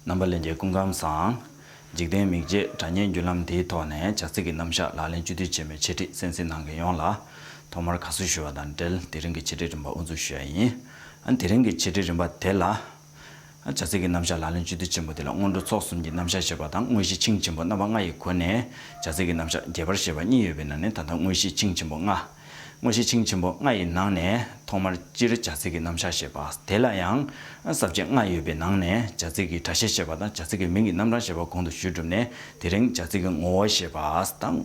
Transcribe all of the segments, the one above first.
རྣམ་པ་ལས་འགྱེད་ཀུན་ཁམས་བཟང། འཇིག་རྟེན་མིག་འབྱེད་སྒྲ་སྙན་བརྒྱུད་ལམ་དེའི་ཐོག་ནས་བྱ་ཚིག་གི་རྣམ་གཞག་ལག་ལེན་བཅུ་དུས་ཆེན་མོའི་འཆད་ཁྲིད་གསན་གཟིགས་གནང་མཁན་ཡོངས་ལ། ཐོག་མར་དགའ་བསུ་ཞུ་བ་དང་འབྲེལ་དེ་རིང་གི་འཆད་ཁྲིད་རིམ་པ་དབུ་འཛུགས་ཞུ་ཡ་ཡིན། དེ་རིང་གི་འཆད་ཁྲིད་རིམ་པ་དེ་ལ། བྱ་ཚིག་གི་རྣམ་གཞག་ལག་ལེན་བཅུ་དུས་ཆེན་མོ་དེ་ལ་སྔོན་འགྲོ་ཚོགས་གསུམ་གྱི་རྣམ་གཞག་ཞེས་པ་དང་དངོས་གཞི་ཆིངས་ཆེན་པོ་རྣམ་པ་ལྔ་ཡི་སྒོ་ནས་བྱ་ཚིག་གི་རྣམ་གཞག་རྒྱས་པར་བཤད་པ་གཉིས་ཡོད་པའི་ནང་ནས་ད་ལྟ་དངོས་གཞི་ཆིངས་ཆེན་པོ་ལྔ། དངོས་གཞི་ཆིངས་ཆེན་པོ་ལྔ་ཡི་ནང་ནས་ཐོག་མར་སྤྱིར་བྱ་ཚིག་གི་རྣམ་གཞག་ཞེས་པ་དེ་ལ་ཡང་ཟབ་ཆ་ལྔ་ཡོད་པའི་ནང་ནས་བྱ་ཚིག་གི་སྒྲ་ཤེས་ཞེས་པ་དང་བྱ་ཚིག་གི་མིང་གི་རྣམ་གྲངས་ཞེས་པ་གོང་དུ་ཞུས་གྲུབ་ནས་དེ་རིང་བྱ་ཚིག་གི་ངོ་བོ་ཞེས་པ་དང།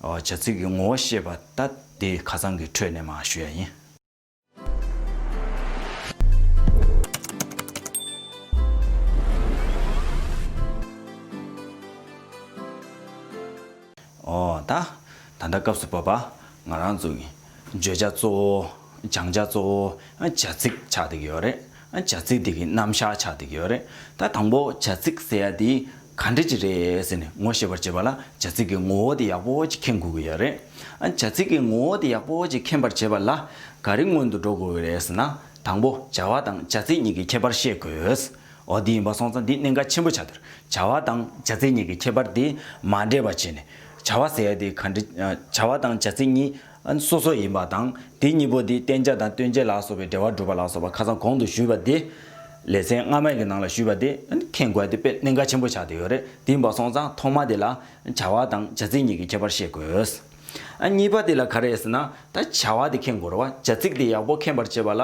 བྱ་ཚིག་གི་ངོ་བོ་ཤེས་པ་ད་དེ་ཁ་ཚང་གི་ཁྲོད་ནས་མ་ཞུས་ཡ་ཡིན། ཨོ་ད། ད་ལྟ་སྐབས་སུ་བབས་པ་ང་རང་བཙུགས། བརྗོད་བྱ་གཙོ་བོ། སྦྱང་བྱ་གཙོ་བོ། བྱ་ཚིག་ཆགས་འདེགས་ཡོད་རེད། བྱ་ཚིག་འདི་གི་རྣམ་གཞག་ཆགས་འདེགས་ཡོད་རེད། ད་དང་པོ་བྱ་ཚིག་ཟེར་ཡ་དེའི་ག་འདྲི་ཅི་རེད་ཟེར་ནས་ངོ་ཤེས་པར་བྱེད་པ་ལ་བྱ་ཚིག་གི་ངོ་བོ་དེ་ཡག་པོ་ཅིག་མཁྱེན་དགོས་ཀྱི་ཡོད་རེད། བྱ་ཚིག་གི་ངོ་བོ་དེ་ཡག་པོ་ཅིག་མཁྱེན་པར་བྱེད་པ་ལ་ག་རེ་སྔོན་དུ་འགྲོ་དགོས་ཀྱི་རེད་ཟེར་ན། དང་པོ་བྱ་བ་དང་བྱ་ཚིག་གཉིས་ཀྱི་ཁྱད་པར་ཤེས་དགོས། འོ་འདི་ཡིན་པ་སོང་ཙང་འདི་གནད་འགག་ཆེན་པོ་ཆགས་འདུག་བྱ་བ་དང་བྱ་ཚིག་གཉིས་ཀྱི་ཁྱད་པར་དེ་མ་འདྲེས་པ་བྱས་ནས་བྱ་བ་ཟེར་ཡ་དེ་ག་འདྲི། བྱ་བ་དང་བྱ་ཚིག་གཉིས་ཨན་སོ་སོ་ཡིན་པ་དང་དེ་གཉིས་པོ་དེ་བསྟན་བྱ་དང་སྟོན་བྱེད་ལ་སོགས་པའི་འབྲེལ་བ་བསྒྲུབ་པ་ལ་སོགས་པ་ཁ་སང་གོང་དུ་ཞུས་པ་དེ། ལེ་ཚན་སྔ་མའི་གི་ནང་ལ་ཞུས་པ་དེ་མཁྱེན་དགོས་དེ་དཔེ་གནད་འགག་ཆེན་པོ་ཆགས་དེ་ཡོད་རེད་དེ་འབའ་སོང་ཙང་ཐོག་མ་དེ་ལ་བྱ་བ་དང་བྱ་ཚིག་གཉིས་ཀྱི་ཁྱད་པར་ཤེས་དགོས། གཉིས་པ་དེ་ལ་ག་རེ་ཟེར་ན་ད་བྱ་བ་དེ་མཁྱེན་དགོས་རོ་བ་བྱ་ཚིག་དེ་ཡག་པོ་མཁྱེན་པར་བྱེད་པ་ལ།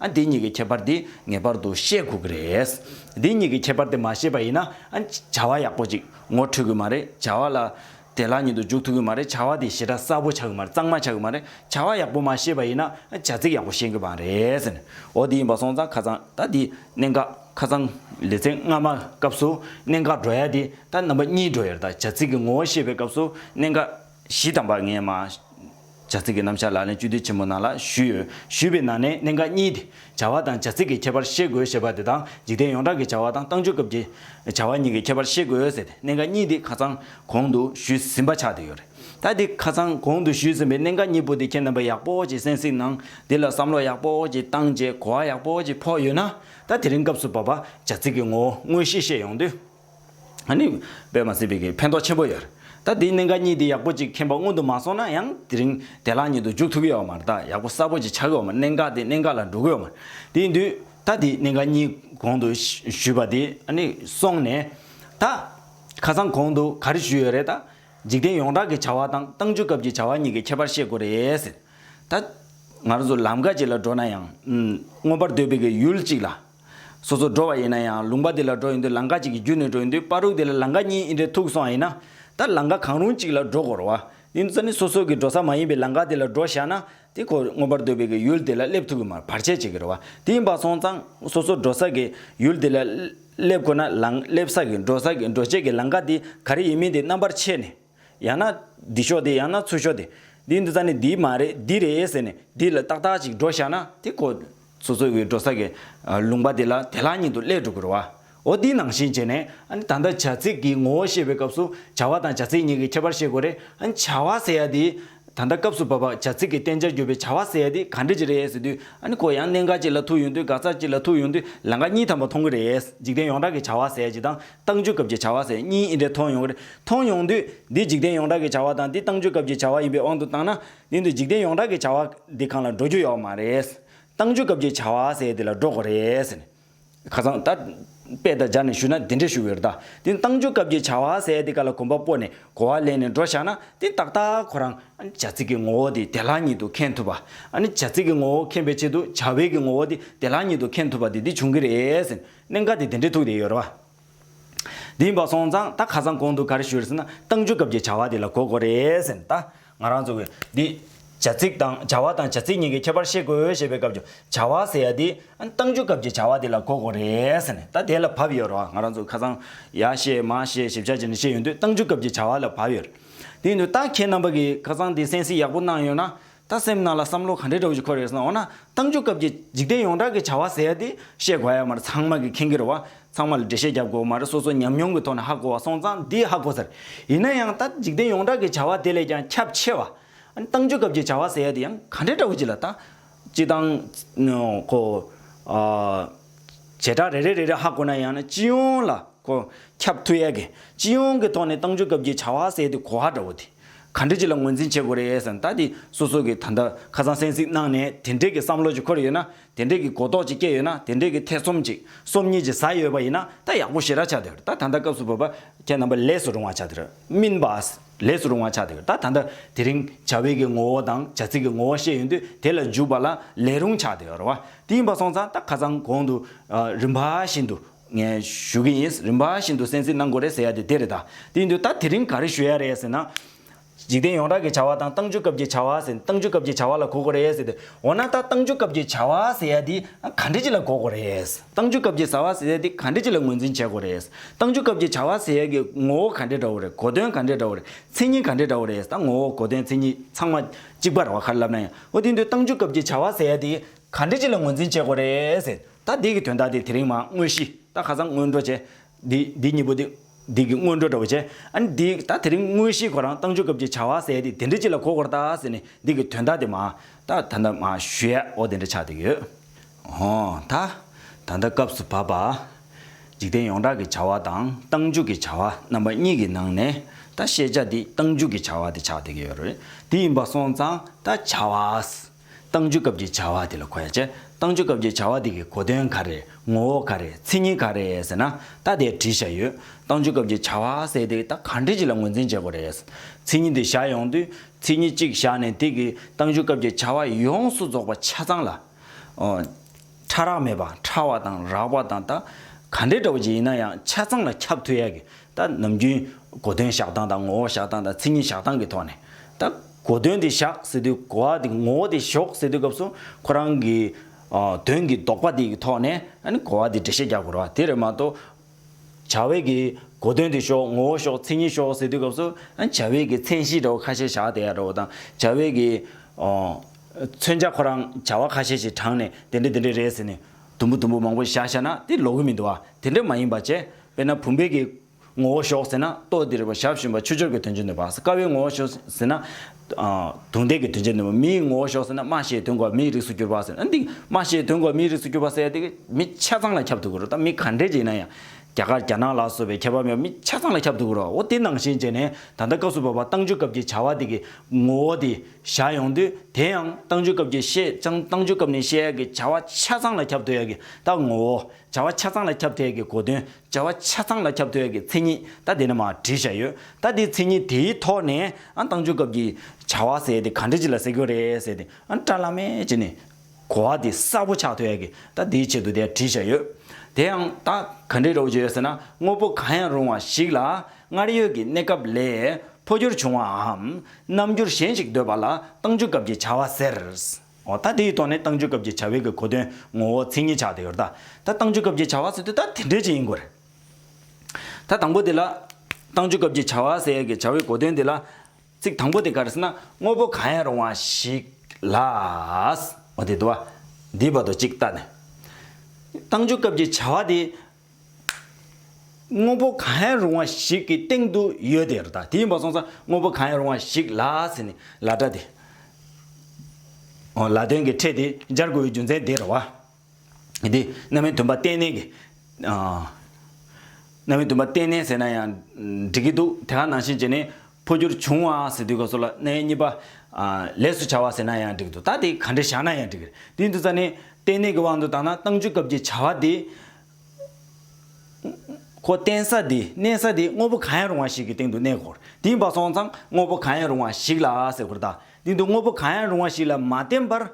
ཨ་འདི་གཉིས་ཀྱི་ཁྱད་པར་འདི་ངེས་པར་དུ་ཤེས་དགོས་ཀྱི་རེད། འདི་གཉིས་ཀྱི་ཁྱད་པར་དེ་མ་ཤེས་པ་ཡིན་ན་བྱ་བ་ཡག་པོ་ཅིག་ངོ་འཕྲོད་གི་མ་རེད་བྱ་བ་ལ་དེ་ལག་ཉིད་དུ་འཇུག་ཐུབ་ཀྱི་མ་རེད་བྱ་བ་དེ་ཞེ་དྲག་གསལ་པོ་ཆགས་ཀྱི་མ་རེད་གཙང་མ་ཆགས་ཀྱི་མ་རེད་བྱ་བ་ཡག་པོ་མ་ཤེས་པ་ཡིན་ན་བྱ་ཚིག་ཡག་པོ་ཤེས་ཀྱི་མ་རེད། འོ་འདི་ཡིན་པ་སོང་ཙང་ཁ་ཙང་ད་འདི་གནད་འགག་ཁ་ཙང་ལེ་ཚན་སྔ་མ་སྐབས་སུ་གནད་འགག་འགྲོ་ཡ་དེ་ད་རྣམ་པ་གཉིས་འགྲོ་ཡ་རེད་ད་བྱ་ཚིག་གི་ངོ་བོ་ཤེས་པའི་སྐབས་སུ་གནད་འགག། གཞི་དམ་པར་ངས་མ། བྱ་ཚིག་གི་རྣམ་གཞག་ལག་ལེན་བཅུ་དུས་ཆེན་མོ་ནང་ལ་ཞུས་ཡོད། ཞུས་པའི་ནང་ནས་གནད་འགག་གཉིས་ཏེ། བྱ་བ་དང་བྱ་ཚིག་གི་ཁྱད་པར་ཤེས་དགོས་ཞེས་པ་དེ་དང་འཇིག་རྟེན་ཡོངས་གྲགས་ཀྱི་བྱ་བ་དང་ཏང་ཆོས་སྐབས་ཀྱི། བྱ་བ་གཉིས་ཀྱི་ཁྱད་པར་ཤེས་དགོས་ཟེར་ཏེ་གནད་འགག་གཉིས་དེ་ཁ་ཚང་གོང་དུ་ཞུས་ཟིན་པ་ཆགས་བསྡད་ཡོད་རེད། ད་དེ་ཁ་ཚང་གོང་དུ་ཞུས་ཟིན་པའི་གནད་འགག་གཉིས་པོ་དེ་ཁྱེད་རྣམ་པས་ཡག་པོ་གྱིས་གསན་གཟིགས་གནང། དེ་ལ་བསམ་བློ་ཡག་པོ་གྱིས་བཏང་རྗེས་གོ་བ་ཡག་པོ་གྱིས་ཕོག་ཡོད་ན། ད་དེ་རིང་སྐབས་སུ་བབ་པ་བྱ་ཚིག་གི་ངོ་བོ་དངོས་གཞི་ཤེས་ཡོང་དུས། བོད་མ་སྲིད་བོད་ཀྱི་ཕན་ཐོགས་ཆེན་པོ་ཡོད་རེད་ད་དེའི་གནད་འགག་གཉིས་དེ་ཡག་པོ་ཅིག་མཁྱེན་པ་སྔོན་དུ་མ་སོང་ན་ཡང་དེ་རིང་དེ་ལག་གཉིས་དུ་འཇུག་ཐུབ་ཀྱི་ཡོད་མ་རེད་ད་ཡག་པོ་གསར་པོ་ཅིག་ཆགས་ཀྱི་ཡོད་མ་རེད་གནད་འགག་དེ་གནད་འགག་ལ་འགྲོ་གི་ཡོད་མ་རེད་དེ་ཡིན་དུས་ད་དེའི་གནད་འགག་གཉིས་གོང་དུ་ཞུས་པ་དེ་སོང་ནས་ད་ཁ་སང་གོང་དུ་ག་རེ་ཞུས་ཡོད་རེད་ད་འཇིག་རྟེན་ཡོངས་གྲགས་ཀྱི་བྱ་བ་དང་ཏང་ཅུས་སྐབས་ཀྱི་བྱ་བ་གཉིས་ཀྱི་ཁྱད་པར་ཤེས་དགོས་རེད་ཟེར་ད་ང་རང་ཚོ་ལམ་ཀ་ཅིག་ལ་འགྲོ་ན་ཡང་མངོན་པར་འདོད་པའི་ཡུལ་ཅིག་ལ། སོ་སོར་འགྲོ་བ་ཡིན་ན་ཡང་ལུང་པ་དེ་ལ་འགྲོ་ཡི་འདོད་ལང་ཀ་གཅིག་གི་རྒྱུ་ནས་འགྲོ་ཡི་འདོད་པ་རུག་དེ་ལ་ལང་ཀ་གཉིས་ཨི་འདྲའི་ཐུག་སོང་ཨེ་ན། ད་ལང་ཀ་གང་རུང་གཅིག་ལ་འགྲོ་དགོར་བ་ཨིན་ཙ་ནི་སོ་སོ་གི་འགྲོ་ས་མ་ཡིན་པའི་ལང་ཀ་དེ་ལ་འགྲོ་བཞག་ན་དེ་ཁོ་མངོན་པར་འདོད་པའི་གི་ཡུལ་དེ་ལ་སླེབས་ཐུག་གི་མར་བར་ཆད་བྱེད་གི་རེད་བ་དེ་ཡིན་པ་སོང་ཙང་སོ་སོར་འགྲོ་ས་གི་ཡུལ་དེ་ལ་སླེབས་ཁོ་ན་ལང་སླེབས་ས་གི་འགྲོ་ས་གི་འགྲོ་བྱེད་གི་ལང་ཀ་དེ་ག་རེ་ཡིན་མིན་དེ་རྣམ་པར་ཕྱེ་ནས། ཡང་ན། འདི་ཤོག་དེ་ཡང་ན་ཚུར་ཤོག་དེ། འདི་འདི་ཙམ་ནས་འདི་མ་རེད་འདི་རེད་ཟེར་ནས་འདི་ལ་ཏག་ཏག་ཅིག་འགྲོ་བཞག་ན་དེ་ཁོ། ཚོ་ཚོ་བའི་འགྲོ་ས་གི། ལུང་པ་དེ་ལ་དེ་ལྷང་ཉིད་དུ་སླེབས་འགྲོ་གི་རོ། འོ་དེའི་ནང་བཞིན་བྱས་ནས། ད་ལྟ་བྱ་ཚིག་གི་ངོ་བོ་ཤེས་པའི་སྐབས་སུ་བྱ་བ་དང་བྱ་ཚིག་གཉིས་ཀྱི་ཁྱད་པར་ཤེས་དགོས་རེད། བྱ་བ་ཟེར་ཡ་དེ། ད་ལྟ་སྐབས་སུ་བབ་པ་བྱ་ཚིག་གི་བསྟན་བྱར་གྱུར་པའི་བྱ་བ་ཟེར་ཡ་དེ་ག་འདྲི་ཅི་རེད་ཟེར་དུས། ཁོ་ཡང་གནད་འགག་ཅིག་ལ་ཐུག་ཡོང་དུས་འགག་རྩ་ཅིག་ལ་ཐུག་ཡོང་དུས་ལས་འགག་གཉིས་ཐམ་པ་མཐོང་གི་རེད། འཇིག་རྟེན་ཡོངས་གྲགས་ཀྱི་བྱ་བ་ཟེར་ཡ་ཅིག་དང་བཏང་འཇུག་སྐབས་ཀྱི་བྱ་བ་ཟེར་གཉིས་ཨི་འདྲས་མཐོང་ཡོང་གི་རེད། མཐོང་ཡོང་དུས། འདི་འཇིག་རྟེན་ཡོངས་གྲགས་ཀྱི་བྱ་བ་དང་འདི་བཏང་འཇུག་སྐབས་ཀྱི་བྱ་བ་ཡིན་པའི་དབང་དུ་བཏང་ན། འདི་འདི་འཇིག་རྟེན་ཡོངས་གྲགས་ཀྱི་བྱ་བ། འདི་གང་ལ་འགྲོ་རྒྱུ་ཡོད་མ་རེད། བཏང་འཇུག་སྐབས་ཀྱི་བྱ་བ་ཟེར་འདི་ལ་འགྲོ་དགོས་རེད། ཁ་སང་ད། དཔེ་དང་སྦྱར་ནས་ཞུས་ན་འདི་འདྲས་ཞུ་གི་རེད་ད། འདི་བཏང་འཇུག་སྐབས་ཀྱི་བྱ་བ་ཟེར་འདི་ག་ལ་གོམ་པ་སྤོ་ནས་གོ་བ་ལེན་ནས་འགྲོ་བཞག་ན་འདི་ཏག་ཏག་ཁོ་རང། བྱ་ཚིག་གི་ངོ་བོ་དེ་དེ་ལག་ཉིད་དུ་མཁྱེན་ཐུབ་པ། བྱ་ཚིག་གི་ངོ་བོ་མཁྱེན་པའི་ཆེད་དུ་བྱ་བའི་གི་ངོ་བོ་དེ་དེ་ལག་ཉིད་དུ་མཁྱེན་ཐུབ་པ་དེ་འདི་བྱུང་གི་རེད། གནད་འགག་དེ་དེ་འདྲའི་ཐུག་བསྡད་ཡོད་རེད་བ། དེ་ཡིན་པ་སོང་ཙང་ད་ཁ་སང་གོང་དུ་ག་རེ་ཞུས་རེད་ཟེར་ན་ཏང་ཙུའི་སྐབས་ཀྱི་བྱ་བ་དེ་ལ་གོ་དགོས་རེད་ཟེར་ནས་ད་ང་རང་ཚོ་གིས་འདི། བྱ་ཚིག་དང་བྱ་བ་དང་བྱ་ཚིག་གཉིས་ཀྱི་ཁྱད་པར་ཤེས་དགོས་ཞེས་པའི་སྐབས་ཀྱི་བྱ་བ་ཟེར་ཡ་དེ་ཏང་ཙུའི་སྐབས་ཀྱི་བྱ་བ་དེ་ལ་གོ་དགོས་རེད་ཟེར་ནས་ད་དེ་ལ་བབས་ཡོད་རེད་བ་ང་རང་ཚོ་ཁ་སང་ཡ་བཤད་མ་བཤད་ཞིབ་ཆ་བྱས་ནས་བཤད་ཡོད་དུས་ཏང་ཙུའི་སྐབས་ཀྱི་བྱ་བ་ལ་བབས་ཡོད་རེད། དེ་ཡིན་དུས་ད་ཁྱེད་རྣམ་པ་གིས་ཁ་སང་དེ་གསན་གཟིགས་ཡག་པོ་གནང་ཡོད་ན་ད་སེམས་ནང་ལ་བསམ་བློ་ག་འདྲའི་དྲག་ཞིག་འཁོར་ཡོད་ཟེར་ན་འོ་ན་གཏམ་རྒྱུད་སྐབས་ཀྱི་འཇིག་རྟེན་ཡོངས་གྲགས་ཀྱི་བྱ་བ་ཟེར་ཡ་དེ་བཤད་དགོས་ཡ་མ་རེད་ཚང་མ་གི་ཁེངས་གི་རེད་བ་ཚང་མ་ལ་འགྲེལ་བཤད་བརྒྱབ་དགོས་མ་རེད་སོ་སོ་ཉམས་མྱོང་གི་ཐོག་ནས་ཧ་གོ་བ་སོང་ཙང་དེ་ཧ་གོ་ཟེར་ཡིན་ན་ཡང་ད་འཇིག་རྟེན་ཡོངས་གྲགས་ཀྱི་བྱ་བ་དེ་ལས་ཀྱང་ཁྱབ་ཆེ་བ་ཨ་ནི་གཏམ་རྒྱུད་སྐབས་ཀྱི་བྱ་བ་ཟེར་ཡ་དེ་ཡང་ག་འདྲའི་དྲག་ཞིག་ལ་ད་སྤྱི་བཏང་གོ་ཨ་བྱེ་བྲག་རེ་རེ་རེ་རེ་ཧ་གོ་ན་ཡང་ན་སྤྱི་ཡོངས་ལ་གོ་ཁྱབ་ཐུབ་ཡ་གི་སྤྱི་ཡོངས་གི་ཐོག་ནས་གཏམ་རྒྱུད་སྐབས་ཀྱི་བྱ་བ་ཟེར་དེ་གོ་ཧ་འདྲ་བོ་དེ། ག་འདྲི་ཅི་ལ་ངོས་འཛིན་བྱེད་དགོས་རེད་ཟེར་ན་ད་དེ་སོ་སོ་གི་ད་ལྟ་ཁ་སང་གསན་གཟིགས་གནང་ནས་དེ་འདྲེ་གི་བསམ་བློ་ཅིག་འཁོར་ཡོད་ན་དེ་འདྲེ་གི་གོ་རྟོགས་ཅིག་སྐྱེ་ཡོད་ན་དེ་འདྲེ་གི་ཐེ་ཚོམ་ཅིག་སོམ་ཉི་ཅིག་ཟ་ཡོད་པ་ཡིན་ན་ད་ཡག་པོ་ཞེ་ར་ཆགས་དེ་ད་ད་ལྟ་སྐབས་སུ་བབ་པ་ཁྱེད་རྣམ་པ་ལས་སུ་རུང་བ་ཆགས་དེར་སྨིན་པ་ལས་སུ་རུང་བ་ཆགས་དེ་ད་ད་ལྟ་དེ་རིང་བྱ་བའི་གི་ངོ་བོ་དང་བྱ་ཚིག་གི་ངོ་བོ་ཤེས་ཡོད་དུས་དེ་ལ་འཇུག་པ་ལ་ལས་རུང་ཆགས་དེ་ར་བ་དེ་ཡིན་པ་སོང་ཙང་ད་ཁ་སང་གོང་དུ་རིམ་པ་བཞིན་དུ་ངས་ཞུ་གི་ཡིན། རིམ་པ་བཞིན་དུ་གསན་གཟིགས་གནང་དགོས་རེད་ཟེར་ཡ་དེ་དེ་རེད་ད། དེ་ཡིན་དུས་ད་དེ་རིང་ག་རེ་ཞུ་ཡ་རེད་ཟེར་ན། འཇིག་རྟེན་ཡོངས་གྲགས་ཀྱི་བྱ་བ་དང་ཏང་ཅུས་སྐབས་ཀྱི་བྱ་བ་ཟེར་ཏང་ཅུས་སྐབས་ཀྱི་བྱ་བ་ལ་གོ་དགོས་རེད་ཟེར་ཏེ། འོ་ན་ད་ཏང་ཅུས་སྐབས་ཀྱི་བྱ་བ་ཟེར་ཡ་དེ་ག་འདྲི་ཅི་ལ་གོ་དགོས་རེད། ཏང་ཅུས་སྐབས་ཀྱི་བྱ་བ་ཟེར་ཡ་དེ་ག་འདྲི་ཅི་ལ་ངོས་འཛིན་བྱེད་དགོས་རེད། ཏང་ཅུས་སྐབས་ཀྱི་བྱ་བ་ཟེར་ཡ་གི་ངོ་བོ་ག་འདྲི་འདྲ་བོ་རེད་གོ་དོན་ག་འདྲི་འདྲ་བོ་རེད་མཚན་ཉིད་ག་འདྲི་འདྲ་བོ་རེད་ད་ངོ་བོ་གོ་དོན་མཚན་ཉིད་ཚང་མ་གཅིག་པ་རེད་བ་ག་རེ་ལབ་ན་ཡང་འོ་དེ་ཡིན་དུས་ཏང་ཅུས་སྐབས་ཀྱི་བྱ་བ་ཟེར་ཡ་དེ་ག་འདྲི་ཅི་ལ་ངོས་འཛིན་བྱེད་དགོས་རེད་ཟེར། ད་འདིགི་དོན་དག་དེ་དེ་རིང་མ་དངོས་གཞི་ད་ཁ་སང་སྔོན་འགྲོ་བྱས། འདི་འདི་གཉིས་པོ་དེ་འདིགི་སྔོན་འགྲོ་འདྲ་བོ་བྱས། ཨཱ་ནི་འདིག་ད་དེ་རིང་དངོས་གཞིའི་གོ་རང་བཏང་ཆོག་སྐབས་ཀྱི་བྱ་བ་ཟད་དེ་དེ་འདྲ་ཅི་ལ་གོ་དགོར་ད་ཟེར་ནས་འདིགི་དོན་དག་དེ་མ་ད་ད་ད་མ་ཞུ་ཡ་ཨོ་དེ་འདྲ་ཆགས་དེ་ཡོད། ཧོ་ད་ད་ལྟ་སྐབས་སུ་བབ་པ། འཇིག་རྟེན་ཡོངས་གྲགས་ཀྱི་བྱ་བ་དང་བཏང་འཇུག་གི་བྱ་བ་རྣམ་པ་གཉིས་ཀྱི་ནང་ནས་ད་ཤེས་བྱ་འདི་བཏང་འཇུག་གི་བྱ་བ་དེ་ཆགས་དེ་གི་ཡོད་རེད་དེ་ཡིན་པ་སོང་ཙང་ད་བྱ་བ། བཏང་བྱུང་སྐབས་ཀྱི་བྱ་བ་དེ་ལ་གོ་ཡ་བྱས། བཏང་བྱུང་སྐབས་ཀྱི་བྱ་བ་དེ་གི་གོ་དོན་ག་རེ། ངོ་བོ་ག་རེ། མཚན་ཉིད་ག་རེ་ཟེར་ན། ད་དེ་བྲིས་བཞག་ཡོད། བཏང་བྱུང་སྐབས་ཀྱི་བྱ་བ་ཟེར་དེ་ད་ག་འདྲི་གཅིག་ལ་ངོས་འཛིན་བྱེད་དགོས་རེད། མཚན་ཉིད་དེ་བཞག་ཡོང་དུས། མཚན་ཉིད་གཅིག་བཞག་ནས་དེ་གི་བཏང་བྱུང་སྐབས་ཀྱི་བྱ་བ་ཡོངས་སུ་རྫོགས་པ་ཆ་ཚང་ལ། ཕྲ་རགས་མེད་པ་ཕྲ་བ་དང་རགས་པ་དང་ད་ག་འདྲའི་དྲ་བ་ཅིག་ཡིན་ན་ཡང་ཆ་ཚང་ལ་ཁྱབ་ཐུབ་ཡ་གི་ད་ནམ་རྒྱུན་གོ་དོན་བཞག་སྟངས་དང་ངོ་བོ་བཞག་སྟངས་དང་ཚིག་ངན་བཞག་སྟངས་ཀྱི་ཐོག་ནས་ད་གོ་དོན་དེ་བཞག་ཟེར་དུས་གོ་བ་དེ་ངོ་བོ་དེ་ཞོག་ཟེར་དུས་སྐབས་སུ་ཁོ་རང་གི་དོན་གྱི་ལྡོག་པ་དེ་ཡི་ཐོག་ནས་ཨ་ནི་གོ་བ་དེ་འགྲེལ་བཤད་རྒྱག་དགོས་རོགས་དེ་རེད་མ་གཏོགས། བྱ་བས་ཀྱི་གོ་དོན་དེ་ཤོག་ངོ་བོ་ཤོག་མཚན་ཉིད་ཤོག་ཟེར་དུས་སྐབས་སུ་བྱ་བས་ཀྱི་མཚན་གཞི་འདྲ་བོ་ཁ་ཤས་བཞག་བསྡད་ཡག་འདྲ་བོ་དང་བྱ་བས་ཀྱི། མཚོན་བྱ་ཁོ་རང་བྱ་བ་ཁ་ཤས་ཤིག་དྲངས་ནས་དེ་འདྲ་དེ་འདྲ་རེད་ཟེར་ནས་དུམ་བུ་དུམ་བུ་མང་པོ་བཞག་བཞག་ན་དེ་ལོག་གི་མི་འདུག་ཨ་དེ་འདྲ་མ་ཡིན་པ་བྱས་དཔེར་ན་བུམ་པའི་ཀྱི་ངོ་བོ་ཤོག་ཟེར་ན་ལྟོ་ལྡིར་བ་ཞབས་ཞུམ་པ་ཆུ་སྦྱོར་གྱི་དོན་ཅི་འདོད་པ་ཟེར་ཀ་བའི་ངོ་བོ་ཤོག་ཟེར་ན་དུང་ལྡན་གྱི་དོན་བྱེད་ནུས་པ་མིའི་ངོ་བོ་ཞོག་ཟེར་ན་སྨྲ་ཤེས་དོན་གོ་མིའི་རིགས་སུ་གྱུར་པ་ཟེར་ན་འདི་སྨྲ་ཤེས་དོན་གོ་མིའི་རིགས་སུ་གྱུར་པ་ཟེར་ཏེ་མི་ཆ་ཚང་ལ་ཁྱབ་ཐུབ་ཀྱི་རེད་དམ་མི་ག་འདྲས་ཀྱི་ཡིན་ན་ཡང་རྒྱ་གར་རྒྱ་ནག་ལ་སོགས་པའི་ཁྱད་པར་མེད་པར་མི་ཆ་ཚང་ལ་ཁྱབ་ཐུབ་ཀྱི་རེད་འོ་དེ་ནང་བཞིན་བྱས་ནས་ད་ལྟ་སྐབས་སུ་བབས་པ་ཏང་ཅུས་སྐབས་ཀྱི་བྱ་བ་དེ་གི་ངོ་བོ་དེ་བཞག་ཡོང་དུས་དེ་ཡང་ཏང་ཅུས་སྐབས་ཀྱི་བཤད་ཀྱང་ཏང་ཅུས་སྐབས་ནས་བཤད་ཡག་གི་བྱ་བ་ཆ་ཚང་ལ་ཁྱབ་ཐུབ་ཡག་གི་ད་ངོ་བོ་བྱ་བ་ཆ་ཚང་ལ་ཁྱབ་ཐལ་གྱི་གོ་དོན། བྱ་བ་ཆ་ཚང་ལ་ཁྱབ་ཐལ་གྱི་མཚན་ཉིད་ལྟ་དེ་ནི་མ་བྲིས་བྱ་ཡོད་ལྟ་དེའི་མཚན་ཉིད་དེའི་ཐོག་ནས་བཏང་འབྱོར་སྐབས་ཀྱི་བྱ་བ་ཟེར་ཏེ་གང་འབྲེལ་གྱི་ལ་ཟེར་གྱི་རེད་ཟེར་ཏེ་བཀྲ་བླ་མས་ཀྱི་ནི་གོ་བ་དེ་གསལ་པོ་ཆགས་ཐལ་གྱི་ལྟ་དེའི་ཆེད་དུ་དེ་བྲིས་བྱ་ཡོད། དེ་ཡང་ད་ག་འབྲེལ་རོགས་བྱོས་ཟེར་ན་དངོས་པོ་གང་ཡང་རུང་བ་ཞིག་ལ་སྔར་ཡོད་ཀྱི་གནས་སྐབས་ལས་འཕོ་འགྱུར་བྱུང་བའམ་རྣམ་འགྱུར་གཞན་ཞིག་འདོད་པ་ལ་བཏང་འབྱོར་སྐབས་ཀྱི་བྱ་བ་ཟེར། འོ་ད་དེའི་ཐོག་ནས་ཏང་ཙུའི་སྐབས་ཀྱི་བྱ་བའི་གི་གོ་དོན་ངོ་བོ་མཚན་ཉིད་ཆགས་ཏེ་ཡོད། ད་ཏང་ཙུའི་སྐབས་ཀྱི་བྱ་བ་ཟེར་དུས་ད་དེ་འདྲས་ཅིག་ཡིན་དགོས་རེད། ད་དང་པོ་དེ་ལ། ཏང་ཙུའི་སྐབས་ཀྱི་བྱ་བ་ཟེར་གི་བྱ་བའི་གོ་དོན་དེ་ལ། ཚིག་དང་པོ་དེ་ག་རེ་ཟེར་ན་དངོས་པོ་གང་ཡང་རུང་བ་ཞིག་ལ། འོ་དེ་དུ་བ། འདིའི་བར་དུ་གཅིག་བལྟ་ནས། ཏང་ཙུའི་སྐབས་ཀྱི་བྱ་བ་དེ། དངོས་པོ་གང་ཡང་རུང་བ་ཞིག་གི་སྟེང་དུ་ཡོད་དེ་རེད་ད་དེ་ཡིན་པ་སོང་ཙང་དངོས་པོ་གང་ཡང་རུང་བ་ཞིག་ལ་ཟེར་ནས་ལ་སྒྲ་དེ། ལ་དོན་གྱི་ཕྲད་དེ་སྦྱར་དགོས་པའི་རྒྱུ་མཚན་དེ་རེད་བ། དེ་རྣམ་མའི་དོན་པ་གཏན་ནན་གྱི། རྣམ་མའི་དོན་པ་གཏན་ནན་ཟེར་ན་ཡང་འགྲིག་གི་འདུག་དེ་ག་ནང་བཞིན་བྱས་ནས་འཕོ་འགྱུར་བྱུང་བ་ཟེར་དུས་སྐབས་སུ་ལ་ནའི་གཉིས་པ། ལས་སུ་བྱ་བ་ཟེར་ན་ཡང་འགྲིག་འདུག་ད་དེ་ག་འདྲེ་བཞག་ན་ཡང་འགྲིག། དུས་འདི་ཙ་ནས། ལྟེ་གནས་ཀྱི་དབང་དུ་བཏང་ན་བཏང་འཇུག་སྐབས་ཀྱི་བྱ་བ་དེ། ཁོ་བརྟེན་ས་དེ་གནས་ས་དེ་དངོས་པོ་གང་ཡང་རུང་བ་ཞིག་གི་སྟེང་དུ་གནས་སྐོར་དེ་ཡིན་པ་སོང་ཙང་དངོས་པོ་གང་ཡང་རུང་བ་ཞིག་ལ་ཟེར་སྐོར་དང། དེ་འདུག་དངོས་པོ་གང་ཡང་རུང་བ་ཞིག་ལ་མ་བརྟེན་པར།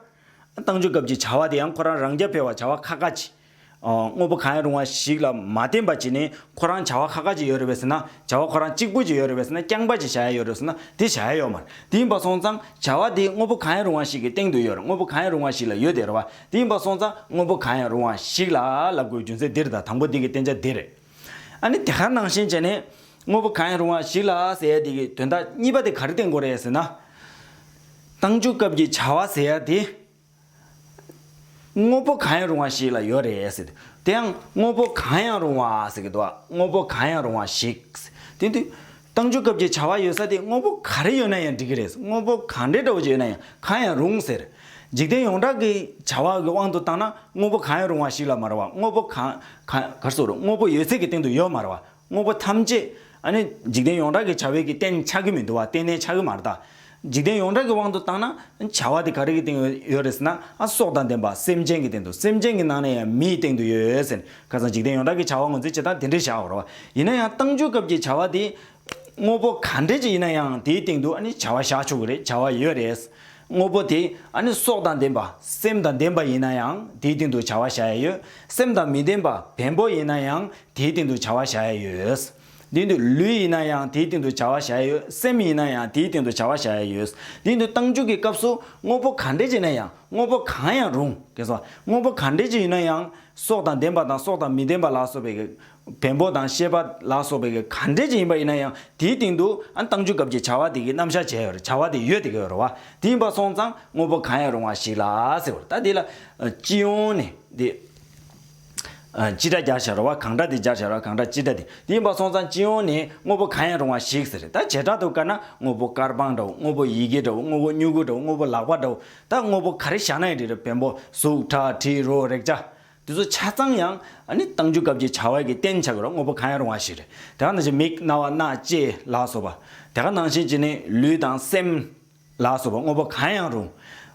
བཏང་འཇུག་སྐབས་ཀྱི་བྱ་བ་དེ་ཡང་ཁོ་རང་རང་རྐྱ་འཕེར་བར་བྱ་བ་ཁ་ཁ་ཆེ། དངོས་པོ་གང་ཡང་རུང་བ་ཞིག་ལ་མ་བརྟེན་པ་གཅིག་ནི་ཁོ་རང་བྱ་བ་ཁ་ཁ་ཅིག་ཡོད་རེད་བས་ཟེར་ན་བྱ་བ་ཁོ་རང་གཅིག་པུ་ཅིག་ཡོད་རེད་བས་ཟེར་ན་རྐྱང་པ་ཅིག་བྱ་ཡ་ཡོད་རེད་ཟེར་ན་དེ་བྱ་ཡ་ཡོད་མ་རེད་དེ་ཡིན་པ་སོང་ཙང་བྱ་བ་དེ་དངོས་པོ་གང་ཡང་རུང་བ་ཞིག་གི་སྟེང་དུ་ཡོད་རེད་དངོས་པོ་གང་ཡང་རུང་བ་ཞིག་ལ་ཡོད་དེ་རེད་བ་དེ་ཡིན་པ་སོང་ཙང་དངོས་པོ་གང་ཡང་རུང་བ་ཞིག་ལ་ལ་དགོས་རྒྱུ་མཚན་འདིར་དང་དང་པོ་འདི་གི་བསྟན་བྱ་འདི་རེད། ཨ་ནི་དེ་ག་ནང་བཞིན་བྱས་ནས་དངོས་པོ་གང་ཡང་རུང་བ་ཞིག་ལ་ཟེར་ཡ་དེ་གི་དོན་དག་གཉིས་པ་དེ་ག་རེ་བསྟན་དགོས་རེད་ཟེར་ན། བཏང་འཇུག་སྐབས་ཀྱི་བྱ་བ་ཟེར་ཡ་དེ། དངོས་པོ་གང་ཡང་རུང་བ་ཞིག་ལ་ཡོད་རེད་ཟེར། དེ་ཡང་དངོས་པོ་གང་ཡང་རུང་བ་ཟེར་གི་འདུག་དངོས་པོ་གང་ཡང་རུང་བ་ཞིག། དེ་དུས། གཏང་རྒྱུ་སྐབས་ཀྱི་བྱ་བ་ཡོད་ས་དེ་དངོས་པོ་ག་རེ་ཡོད་ན་ཡང་འགྲིག་གི་རེད་དངོས་པོ་གང་འདྲའི་འདྲ་བོ་ཞིག་ཡོད་ན་ཡང་གང་ཡང་རུང་ཟེར། འཇིག་རྟེན་ཡོངས་གྲགས་ཀྱི་བྱ་བ་གི་དབང་དུ་བཏང་ན་དངོས་པོ་གང་ཡང་རུང་བ་ཞིག་ལ་མ་རེད་བ་དངོས་པོ་གང། གང་གར་སོ་རུང་དངོས་པོ་ཡོད་ཚད་ཀྱི་སྟེང་དུ་ཡོད་མ་རེད་བ་དངོས་པོ་ཐམས་ཅད་ནི་འཇིག་རྟེན་ཡོངས་གྲགས་ཀྱི་བྱ་བས་ཀྱི་རྟེན་ཆགས་ཀྱི་མི་འདུག་བ་གཏན་ནས་ཆགས་ཀྱི་མ་རེད་ད། འཇིག་རྟེན་ཡོངས་གྲགས་ཀྱི་དབང་དུ་བཏང་ན། བྱ་བ་དེ་ག་རེ་ཀྱི་སྟེང་ཡོད་རེད་ཟེར་ན། སྲོག་དང་ལྡན་པ་སེམས་ཅན་གྱི་སྟེང་དུ་སེམས་ཅན་གྱི་ནང་ན་ཡང་མིའི་སྟེང་དུ་ཡོད་ཟེར། ཁ་སང་འཇིག་རྟེན་ཡོངས་གྲགས་ཀྱི་བྱ་བ་ངོས་འཛིན་བྱེད་སྟངས་དེ་འདྲས་བཞག་རོགས། ཡིན་ན་ཡང་གཏང་སྤྱོད་སྐབས་ཀྱི་བྱ་བ་དེ། དངོས་པོ་ག་འདྲས་ཀྱི་ཡིན་ན་ཡང་དེའི་སྟེང་དུ་ནི་བྱ་བ་བཞག་ཆོག་གི་རེད་བྱ་བ་ཡོད་རེད། དངོས་པོ་དེ་ཨ་ནི་སྲོག་དང་ལྡན་པ་སེམས་དང་ལྡན་པ་ཡིན་ན་ཡང་དེའི་སྟེང་དུ་བྱ་བ་བྱ་ཡ་ཡོད། སེམས་དང་མི་ལྡན་པ་བེམ་པོ་ཡིན་ན་ཡང་དེའི་སྟེང་དུ་བྱ་བ་བྱ་ཡ་ཡོད། དེའི་དུས་ལུས་ཡིན་ན་ཡང་དེའི་སྟེང་དུ་བྱ་བ་བྱ་ཡ་ཡོད་སེམས་ཡིན་ན་ཡང་དེའི་སྟེང་དུ་བྱ་བ་བྱ་ཡ་ཡོད། དེའི་དུས་རྟགས་འཇུག་གི་སྐབས་སུ་དངོས་པོ་ག་འདྲས་ཀྱི་ན་ཡང་དངོས་པོ་གང་ཡང་རུང། དངོས་པོ་ག་འདྲས་ཀྱི་ཡིན་ན་ཡང་སྲོག་དང་ལྡན་པ་དང་སྲོག་དང་མི་ལྡན་པ་ལ་སོགས་པའི་བེམ་པོ་དང་ཤེས་པ་ལ་སོགས་པའི་གང་འབྲེལ་ཅན་ཡིན་པ་ཡིན་ན་ཡང་དེའི་སྟེང་དུ་བཏང་འཇུག་སྐབས་ཀྱི་བྱ་བ་དེ་གི་རྣམ་གཞག་བྱས་བྱ་བ་དེ་ཡོད་དེ་གའི་རོ་བ་དེ་ཡིན་པར་སོང་ཙང་དངོས་པོ་གང་ཡང་རུང་བ་ཞིག་ལ་ཟེར་བར་ད་དེ་ལ་སྤྱི་ཡོངས་ནས་དེ་སྤྱི་སྒྲ་སྦྱར་བྱ་རོ་བ་གང་འདྲ་དེ་སྦྱར་བྱ་རོ་བ་གང་འདྲ་སྤྱི་སྒྲ་དེ་དེ་ཡིན་པར་སོང་ཙང་སྤྱི་ཡོངས་ནས་དངོས་པོ་གང་ཡང་རུང་བ་ཞིག་ཟེར་ད་བྱེ་བྲག་ཏུ་བཀར་ན་དངོས་པོ་དཀར་སྤང་འདྲ་བོ་དངོས་པོ་ཡི་གེ་འདྲ་བོ་དངོས་པོ་སྨྱུ་གུ་འདྲ་བོ་དངོས་པོ་ལག་པ་འདྲ་བོ་ད་དངོས་པོ་ག་རེ་བཞག་ན་ཡང་རེད་བེམ་པོ་གཟུགས་ཁྲག་དྲི་རོ་རེག་བྱ་དེ་ཚོ་ཆ་ཚང་ཡང་བཏང་རྒྱུ་སྐབས་ཀྱི་བྱ་བ་གི་བརྟེན་བྱ་དགོས་རོགས་དངོས་པོ་གང་ཡང་རུང་བ་ཞིག་རེད་དེ་ག་ནང་བཞིན་མིག་རྣ་བ་སྣ་ལྕེ་ལགས་སོགས་པ་དེ་ག་ནང་བཞིན་གྱི་ནི་ལུས་དང་སེམས་ལགས་སོགས་པ་དངོས་པོ་གང་ཡང་རུང་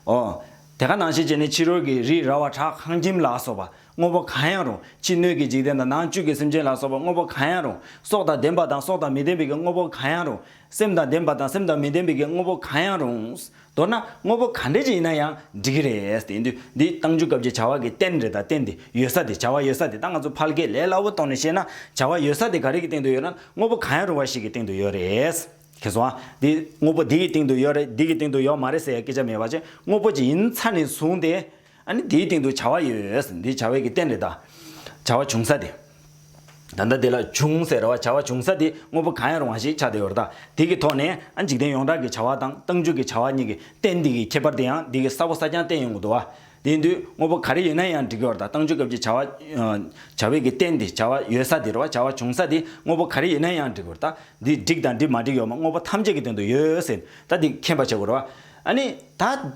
ཨོ་དེ་ག་ནང་བཞིན་གྱི་ནི་ཕྱི་རོལ་གྱི་རི་ར་བ་བྲག་ཁང་ཁྱིམ་ལགས་སོགས་པ་དངོས་པོ་གང་ཡང་རུང་ཕྱི་སྣོད་ཀྱི་འཇིག་རྟེན་དང་ནང་བཅུད་ཀྱི་སེམས་ཅན་ལ་སོགས་པ་དངོས་པོ་གང་ཡང་རུང་སྲོག་དང་ལྡན་པ་དང་སྲོག་དང་མི་ལྡན་པའི་གི་དངོས་པོ་གང་ཡང་རུང་སེམས་དང་ལྡན་པ་དང་སེམས་དང་མི་ལྡན་པའི་གི་དངོས་པོ་གང་ཡང་རུང། མདོར་ན་དངོས་པོ་ག་འདྲ་ཅིག་ཡིན་ན་ཡང་འགྲིག་གི་རེད་དེ། འདི་བཏང་རྒྱུ་སྐབས་ཀྱི་བྱ་བ་གི་རྟེན་རེ་དང་རྟེན་དེ་ཡོད་ས་དེ་བྱ་བ་ཡོད་ས་དེ་ད་ང་ཚོ་ཕལ་སྐད་ལས་སླ་བོ་གཏོང་ནས་བཤད་ན་བྱ་བ་ཡོད་ས་དེ་ག་རེ་གི་སྟེང་དུ་ཡོད་ན་དངོས་པོ་ག་ཡང་རུང་བ་ཞིག་གི་སྟེང་དུ་ཡོད་རེད། ཁྱེད་སོང་ཨ། འདི་དངོས་པོ་འདི་གི་སྟེང་དུ་ཡོད་རེད་འདི་གི་སྟེང་དུ་ཡོད་མ་རེད་ཟེར་ཡ་སྐད་ཆ་མེད་བ་ཅན་དངོས་པོ་ཅིག་ཡིན་ཚ་ནས་བཟུང་སྟེ། ཨ་ནི་དེའི་སྟེང་དུ་བྱ་བ་ཡོད། འདི་བྱ་བའི་ཀྱི་རྟེན་རེད་ད། བྱ་བ་བྱུང་ས་དེ། ད་ལྟ་དེ་ལ་བྱུང་ཟེར་བ་བྱ་བ་བྱུང་ས་དེ་དངོས་པོ་གང་ཡང་རུང་བ་ཞིག་ཆགས་བསྡད་ཡོད་རེད་ད། དེ་གི་ཐོག་ནས་ཨ་འཇིག་རྟེན་ཡོངས་གྲགས་ཀྱི་བྱ་བ་དང་སྟངས་འཇུག་གི་བྱ་བ་གཉིས་ཀྱི་རྟེན་འདི་གི་ཁྱད་པར་དེ་ཡང་འདི་གི་ས་བོ་ས་རྐྱང་རྟེན་ཡོང་གི་འདུག་བ། དེ་འདུས་དངོས་པོ་ག་རེ་ཡོད་ན་ཡང་འགྲིག་གི་རེད་ད་སྟངས་འཇུག་སྐབས་ཀྱི་བྱ་བ། བྱ་བའི་ཀྱི་རྟེན་དེ་བྱ་བ་ཡོད་ས་དེ་རེད་བ་བྱ་བ་བྱུང་ས་དེ་དངོས་པོ་ག་རེ་ཡོད་ན་ཡང་འགྲིག་གི་རེད་ད། འདི་འགྲིག་དང་འདི་མ་འགྲིག་ཡོད་མ་དངོས་པོ་ཐམས་ཅད་ཀྱི་སྟེང་དུ་ཡོད་ཟེར་ནས་ད་འདི་མཁྱེན་པ་བྱེད་དགོས་རེད་བ། ཨ་ནི་ད།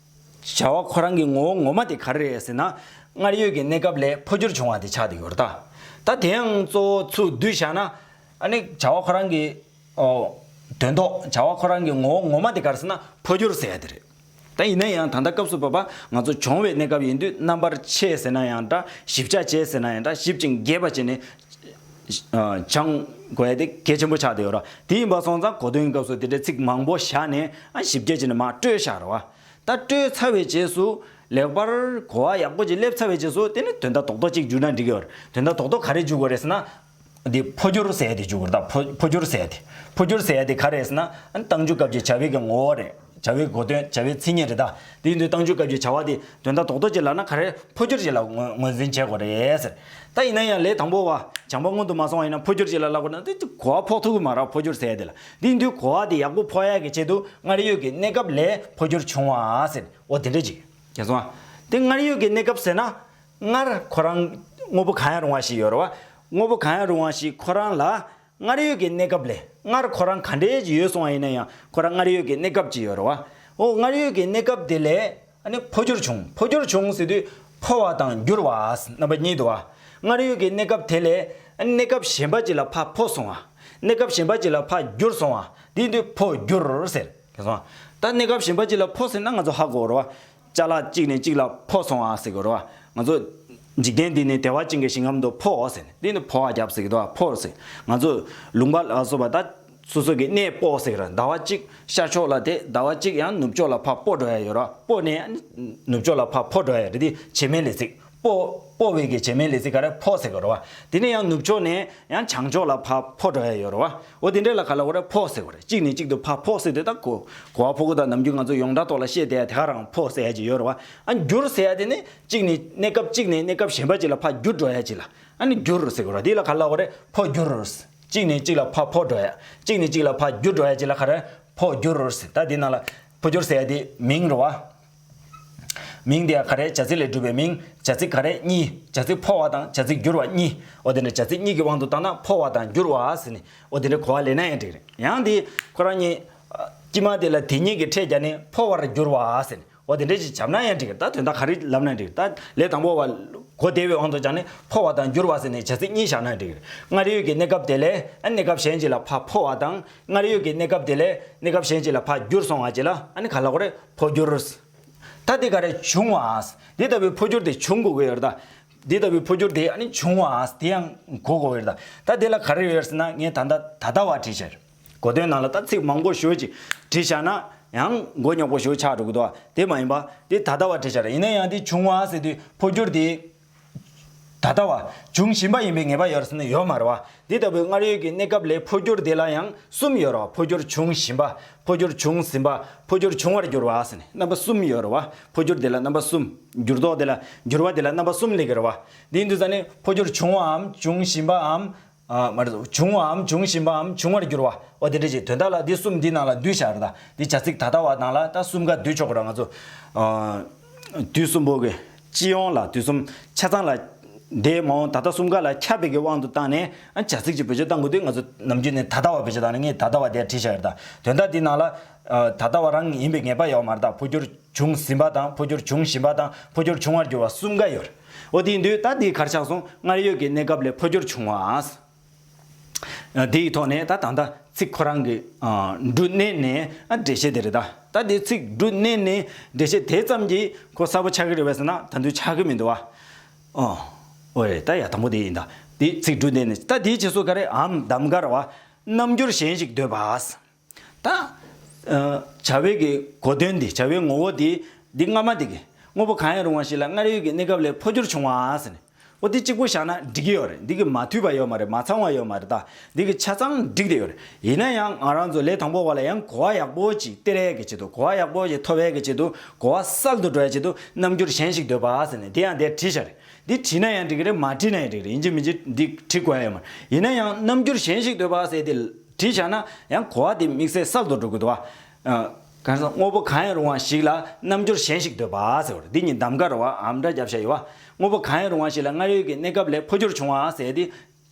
བྱ་བ་ཁོ་རང་གི་ངོ་བོ་ངོ་མ་དེ་ག་རེ་རེད་ཟེར་ན། སྔར་ཡོད་ཀྱི་གནས་སྐབས་ལས་འཕོ་འགྱུར་བྱུང་བ་དེ་ཆགས་ཏེ་ཡོད་རེད། ད་དེ་ཡང་གཙོ་བོ་ཚུར་བསྡུས་བཞག་ན། ཨ་ནི་བྱ་བ་ཁོ་རང་གི། དོན་ཐོག་བྱ་བ་ཁོ་རང་གི་ངོ་བོ་ངོ་མ་དེ་ག་རེ་ཟེར་ན་འཕོ་འགྱུར་ཟེར་ཡ་དེ་རེད། ད་ཡིན་ན་ཡང་ད་ལྟ་སྐབས་སུ་བབ་པ་ང་ཚོ་འབྱུང་བའི་གནས་སྐབས་ཡིན་དུས་རྣམ་པར་ཕྱེ་ཟེར་ན་ཡང་འདྲ་ཞིབ་ཆ་བྱེད་ཟེར་ན་ཡང་འདྲ་ཞིབ་ཅིང་རྒྱས་པ་བྱས་ནས་བྱང། གོས་དེ་གལ་ཆེན་པོ་ཆགས་བསྡད་ཡོད་ར། དེ་ཡིན་པ་སོང་ཙང་གོ་དོན་སྐབས་སུ་དེ་འདྲའི་ཚིག་མང་པོ་བཞག་ནས་ཨ་ཞིབ་རྒྱས་བྱས་ནས་མ་སྤྲོས་བཞག་ར་བ། ད་སྤྲོས་ཚར་བའི་རྗེས་སུ། ལེགས་པར་གོ་བ་ཡག་པོ་ཅིག་སླེབས་ཚར་བའི་རྗེས་སུ་དེ་ནི་དོན་དག་རྡོག་རྡོག་ཅིག་འཇུག་ན་འགྲིག་གི། དོན་དག་རྡོག་རྡོག་ག་རེ་འཇུག་དགོས་རེད་ཟེར་ན། འདི་འཕོ་འགྱུར་ཟེར་ཡ་དེ་འཇུག་དགོས་རེད་ད་འཕོ་འགྱུར་ཟེར་ཡ་དེ། འཕོ་འགྱུར་ཟེར་ཡ་དེ་ག་རེད་ཟེར་ན། གཏང་འཇུག་སྐབས་ཀྱི་བྱ་བའི་གི་ངོ་བོ་རེད། བྱ་བའི་གོ་དོན་བྱ་བའི་མཚན་ཉིད་རེད། དེ་ཡིན་དུས་གཏང་ཆུང་སྐབས་ཀྱི་བྱ་བ་དེ་དོན་དང་དོགས་འདོགས་བྱེད་ལགས་ན་ག་རེ་འཕོ་སྐྱུར་བྱེད་ལ་ངོས་འཛིན་བྱེད་དགོས་རེད། ད་ཡིན་ན་ཡང་ལས་དང་པོ་བ་བྱང་པ་སྔོན་དུ་མ་སོང་བ་ཡིན་ན་འཕོ་སྐྱུར་བྱེད་ལ་ལག་པ་ན་དེ་གོ་བ་ཕོག་ཐུག་གི་མ་རག་འཕོ་སྐྱུར་ཟེར་དེ་ལ་དེ་ཡིན་དུས་གོ་བ་དེ་ཡག་པོ་ཕོག་ཡག་གི་ཆེད་དུ་སྔར་ཡོད་ཀྱི་གནས་སྐབས་ལས་འཕོ་སྐྱུར་བྱུང་བ་ཟེར་འོ་དེ་འདྲ་ཅིག་གལ་སོང་ང་དེ་སྔར་ཡོད་ཀྱི་གནས་སྐབས་ཟེར་ན་སྔར་ཁོ་རང་དངོས་པོ་གང་ཡང་རུང་བ་ཞིག་ཡོད་རེད་བ་དངོས་པོ་གང་ཡང་རུང་བ་ཞིག་ཁོ་རང་ལ། སྔར་ཡོད་ཀྱི་གནས་སྐབས་ལས་སྔར་ཁོ་རང་ག་འདྲའི་ཡོད་སོང་བ་ཡིན་ན་ཡང་ཁོ་རང་སྔར་ཡོད་ཀྱི་གནས་སྐབས་ཀྱི་ཡོད་རེད་བ། འོ་སྔར་ཡོད་ཀྱི་གནས་སྐབས་དེ་ལས་ཨ་ནི་འཕོ་འགྱུར་བྱུང་འཕོ་འགྱུར་བྱུང་ཟེར་དུས་འཕོ་བ་དང་འགྱུར་བ་རྣམ་པ་གཉིས་འདུ་བ། སྔར་ཡོད་ཀྱི་གནས་སྐབས་དེ་ལས་ཨ་ནི་གནས་སྐབས་གཞན་པ་ཅིག་ལ་ཕ་འཕོ་སོང་བ། གནས་སྐབས་གཞན་པ་ཅིག་ལ་ཕ་འགྱུར་སོང་བ་དེའི་དུས་འཕོ་འགྱུར་ཟེར། ད་གནས་སྐབས་གཞན་པ་ཅིག་ལ་འཕོ་ཟེར་ན་ང་ཚོ་ཧ་གོ་རེད་བ། ལྕགས་ལ་གཅིག་ནས་གཅིག་ལ་འཕོ་སོང་ཨ་ཟེར་གི་རོ། ང་ཚོ་འཇིག་རྟེན་འདི་ནས་བདེ་བ་ཅན་གྱི་ཞིང་ཁམས་དུ་འཕོའོ་ཟེར་ནས་འདི་ནས་འཕོ་བ་རྒྱབ་ཟེར་གི་རྡོ་འཕོ་རུ་ཟེར་ང་ཚོ་ལུང་པ་ལ་སོགས་པ་ད་སོ་སོ་གི་གནས་སྤོ་ཟེར་གི་ར་ཟླ་བ་གཅིག་ཤར་ཕྱོགས་ལ་དེ་ཟླ་བ་གཅིག་ཡང་ནུབ་ཕྱོགས་ལ་ཕར་སྤོ་འགྲོ་ཡ་ཡོད་ར་སྤོ་ནས་ནུབ་ཕྱོགས་ལ་ཕར་འཕོ་འགྲོ་ཡ་ཡོད་རེད་དེ་བྱེ་མའི་ལས་ཚིག་སྤོ། སྤོ་བའི་གི་བྱེ་མའི་ལས་ཚིག་ག་རེ་ཕོ་ཟེར་གི་རོ་བ། དེ་ནས་ཡང་ནུབ་ཕྱོགས་ནས་ཡང་བྱང་ཕྱོགས་ལ་ཕ་ཕོ་འགྲོ་ཡ་ཡོད་རོ་བ། འོ་དེ་འདྲས་ལ་ག་ལ་འོ་རེ་ཕོ་ཟེར་གོ་རེ་གཅིག་ནས་གཅིག་ཏུ་ཕ་ཕོ་ཟེར་དེ་དག་གོ། གོ་བ་ཕོ་གོ་དག་ནམ་རྒྱུན་ང་ཚོ་ཡོངས་གྲགས་ཐོག་ལ་བཤད་དེ་ཡ་དེ་ག་རང་ཕོ་ཟེར་ཡ་ཅིག་ཡོད་རོ་བ། ཨ་འགྱུར་ཟེར་ཡ་དེ་ནི་གཅིག་ནི་གནས་སྐབས་གཅིག་ནས་གནས་སྐབས་གཞན་པ་ཅིག་ལ་ཕ་འགྱུར་འགྲོ་ཡ་ཅིག་ལ་ཨ་ནི་འགྱུར་ཟེར་གི་རོ་དེ་ལ་ག་ལ་འོ་རེ་ཕོ་འགྱུར། གཅིག་ནས་གཅིག་ལ་ཕ་ཕོ་འགྲོ་ཡ། གཅིག་ནས་གཅིག་ལ་ཕ་འགྱུར་འགྲོ་ཡ་ཅིག་ལ་ག་རེ་ཕོ་འགྱུར། ད་དེ་ནང་ལ་ཕོ་འགྱུར་ཟེར་ཡ་དེ་མིང་རོ་བ། མིང་དེ་ཡང་ག་རེའི་བྱ་ཚིག་ལས་གྲུབ་པའི་མིང་བྱ་ཚིག་ག་རེ་གཉིས་བྱ་ཚིག་འཕོ་བ་དང་བྱ་ཚིག་འགྱུར་བ་གཉིས་འོ་དེ་འདྲའི་བྱ་ཚིག་གཉིས་ཀྱི་དབང་དུ་བཏང་ན་འཕོ་བ་དང་འགྱུར་བ་ཟེར་ནས་འོ་དེ་འདྲའི་གོ་བ་ལེན་ན་ཡང་འགྲིག་རེད་ཡང་དེ་ཁོ་རང་གཉིས། དཀྱིལ་མ་དེ་ལ་དེ་གཉིས་ཀྱི་ཕྲད་བརྒྱ་ནི་འཕོ་བར་འགྱུར་བ་ཟེར་ནས་འོ་དེ་འདྲས་ཞིག་བྱབ་ན་ཡང་འགྲིག་ད་དོན་དག་ག་རེ་ལབ་ན་འགྲིག་ད་ལས་དང་པོ་བ་གོ་བདེ་བའི་དབང་དུ་བྱ་ནི་འཕོ་བ་དང་འགྱུར་བ་ཟེར་ནས་བྱ་ཚིག་གཉིས་བཞག་ན་འགྲིག་རེད་སྔར་ཡོད་ཀྱི་གནས་སྐབས་དེ་ལས་གནས་སྐབས་གཞན་ཞིག་ལ་ཕ་འཕོ་བ་དང་སྔར་ཡོད་ཀྱི་གནས་སྐབས་དེ་ལས་གནས་སྐབས་གཞན་ཅིག་ལ་ཕ་འགྱུར་སོང་བ་ཅིག་ལ་ཨ་ནི་ག་ལ་གོ་རེ་ཕོ་འགྱུར། ད་དེ་ག་རེ་བྱུང་བ། འདི་ལྟ་བུའི་ཕོ་འགྱུར་དེ་བྱུང་དགོས་གི་ཡོད་རེད། འདི་ལྟ་བུའི་ཕོ་འགྱུར་དེ་ཨ་ནི་བྱུང་བ་དེ་ཡང་གོ་དགོས་ཡོད་རེད། ད་དེ་ལ་ག་རེ་ཡོད་ཟེར་ན་ངས་ད་ལྟ་ད་ལྟ་བ་བྲིས་ཤར། གོ་དོན་ནང་ལ་ད་ཚིག་མང་པོ་ཞོད་ཅིག་བྲིས་ཤར་ན་ཡང་མགོ་ཉོག་པོ་ཞིག་ཆགས་འགྲོ་གི་འདུག་དེ་མ་ཡིན་པ། འདི་ད་ལྟ་བ་བྲིས་ཤར་ཡིན་ན་ཡང་འདི་བྱུང་བ་ཟེར་དུས་ཕོ་འགྱུར་དེ་ད་ལྟ་བ། འབྱུང་བཞིན་པ་ཡིན་པའི་ངེས་པ་ཡོད་སྲིད་ན་ཡོད་མ་རེད་བ། འདི་ལྟ་བུའི་སྔར་ཡོད་ཀྱི་གནས་སྐབས་ལས་འཕོ་འགྱུར་འདི་ལ་ཡང་གསུམ་ཡོད་རེད་བ། འཕོ་འགྱུར་འབྱུང་བཞིན་པ། འཕོ་འགྱུར་བྱུང་ཟིན་པ། འཕོ་འགྱུར་འབྱུང་བར་འགྱུར་བ་ཟེར་ནས་རྣམ་པ་གསུམ་ཡོད་རེད་བ། འཕོ་འགྱུར་འདི་ལ་རྣམ་པ་གསུམ། འགྱུར་ལྡོག་འདི་ལ། འགྱུར་བ་འདི་ལ་རྣམ་པ་གསུམ་ལེགས་ཡོད་རེད་བ། འདིའི་མདུན་ས་ནི་འཕོ་འགྱུར་བྱུང་བའམ་འབྱུང་བཞིན་པའམ། མར། བྱུང་བའམ་འབྱུང་བཞིན་པའམ་འབྱུང་བར་འགྱུར་བ། འོ་དེ་འདྲ་ཞིག་དོན་དག་ལ་འདི་གསུམ་འདི་ནང་ལ་འདུས་བྱར་དང་འདི་བྱ་ཚིག་ད་ལྟ་བ་དང་ལ་ད་གསུམ་ཀ་བསྡུས་ཆོག་གོ་ང་ཚོ། དུས་གསུམ་པོ་གི་སྤྱི་ཡོངས་ལ་དུས་གསུམ་ཆ་ཚང་ལ། དེའི་མ་འོངས་ད་ལྟ་གསུམ་ཀ་ལ་ཁྱབ་པའི་གི་དབང་དུ་བཏང་ནས་བྱ་ཚིག་ཅིག་བེད་སྤྱོད་བཏང་དགོས་དུས་ང་ཚོ་ནམ་རྒྱུན་ནས་ད་ལྟ་བ་བེད་སྤྱོད་བཏང་ནས་ད་ལྟ་བ་དེ་བྲིས་བྱར་དང་དོན་དག་འདི་ནང་ལ། ད་ལྟ་བ་རང་ཡིན་པའི་ངེས་པ་ཡོད་མ་གཏོགས་འཕོ་འགྱུར་བྱུང་ཟིན་པ་དང་འཕོ་འགྱུར་འབྱུང་བཞིན་པ་དང་འཕོ་འགྱུར་འབྱུང་བར་འགྱུར་བ་གསུམ་ཀ་ཡོད། འོ་དེའི་འདུས་ད་དེའི་གར་ཆགས་སོང་སྔར་ཡོད་ཀྱི་གནས་སྐབས་ལས་འཕོ་འགྱུར་བྱུང་བ། དེའི་ཐོག་ནས་ད་ད་ལྟ་ཚིག་ཁོ་རང་གི་འབྲུ་སྣེ་ནས་འགྲེལ་བཤད་དེ་རེད་ད་ད་དེ་ཚིག་འབྲུ་སྣེ་ནས་འགྲེལ་བཤད་དེ་ཙམ་གྱིས་ཁོ་གསལ་པོ་ཆགས་ཀྱི་རེད་བས་ཟེར་ན་ད་དུང་ཆགས་ཀྱི་མི་འདུག་བ། འོ་རེད་ད་ཡ་དང་པོ་དེ་ཡིན་ད་དེ་ཚིག་འབྲུ་སྣེ་ནས་ད་དེའི་རྗེས་སུ་ག་རེ་འམ་གདམ་ག་ར་བ། རྣམ་འགྱུར་གཞན་ཞིག་འདོད་པ། ད། བྱ་བའི་གི་གོ་དོན་འདི་བྱ་བའི་ངོ་བོ་དེ། འདི་སྔ་མ་དེ་གི་དངོས་པོ་གང་ཡང་རུང་བ་ཞིག་ལ་སྔར་ཡོད་ཀྱི་གནས་སྐབས་ལས་འཕོ་འགྱུར་བྱུང་བ་ཟེར་ནས། འོ་དེ་གཅིག་པོ་བཞག་ན་འགྲིག་གི་ཡོད་རེད་འདི་གི་མ་འཐུས་པ་ཡོད་མ་རེད་མ་ཚང་བ་ཡོད་མ་རེད་ད་འདི་གི་ཆ་ཚང་འགྲིག་དེ་ཡོད་རེད་ཡིན་ན་ཡང་ང་རང་ཚོ་ལས་དང་པོ་བ་ལ་ཡང་གོ་བ་ཡག་པོ་ཅིག་སྟེར་བའི་གི་ཆེད་དུ་གོ་བ་ཡག་པོ་ཞིག་འཐོབ་བའི་གི་ཆེད་དུ་གོ་བ་གསར་དུ་འགྲོ་བའི་ཆེད་དུ་རྣམ་འགྱུར་གཞན་ཞིག་འདོད་པ་ཟེར་ནས་དེ་ཡང་དེར་བྲིས་ཤག་རེད་འདི་བྲིས་ན་ཡང་འགྲིག་གི་རེད་མ་བྲིས་ན་ཡང་འགྲིག་རེད་ཡིན་གཅིག་མིན་གཅིག་འདི་བྲི་དགོས་ཡོད་མ་རེད་ཡིན་ན་ཡང་རྣམ་འགྱུར་གཞན་ཞིག་འདོད་པ་ཟེར་དེ། བྲིས་བཞག་ན་ཡང་གོ་བ་དེ་དམིགས་བསལ་གསར་དུ་འགྲོ་དགོས་དོ། དངོས་པོ་གང་ཡང་རུང་བ་ཞིག་ལ་རྣམ་འགྱུར་གཞན་ཞིག་འདོད་པ། འདི་གཉིས་གདམ་ག་རུ་བའམ་སྒྲ་རྒྱབ་བྱ་ཡོད། དངོས་པོ་གང་ཡང་རུང་བ་ཞིག་ལ་སྔར་ཡོད་ཀྱི་གནས་སྐབས་ལས་འཕོ་འགྱུར་བྱུང་བ། འདི་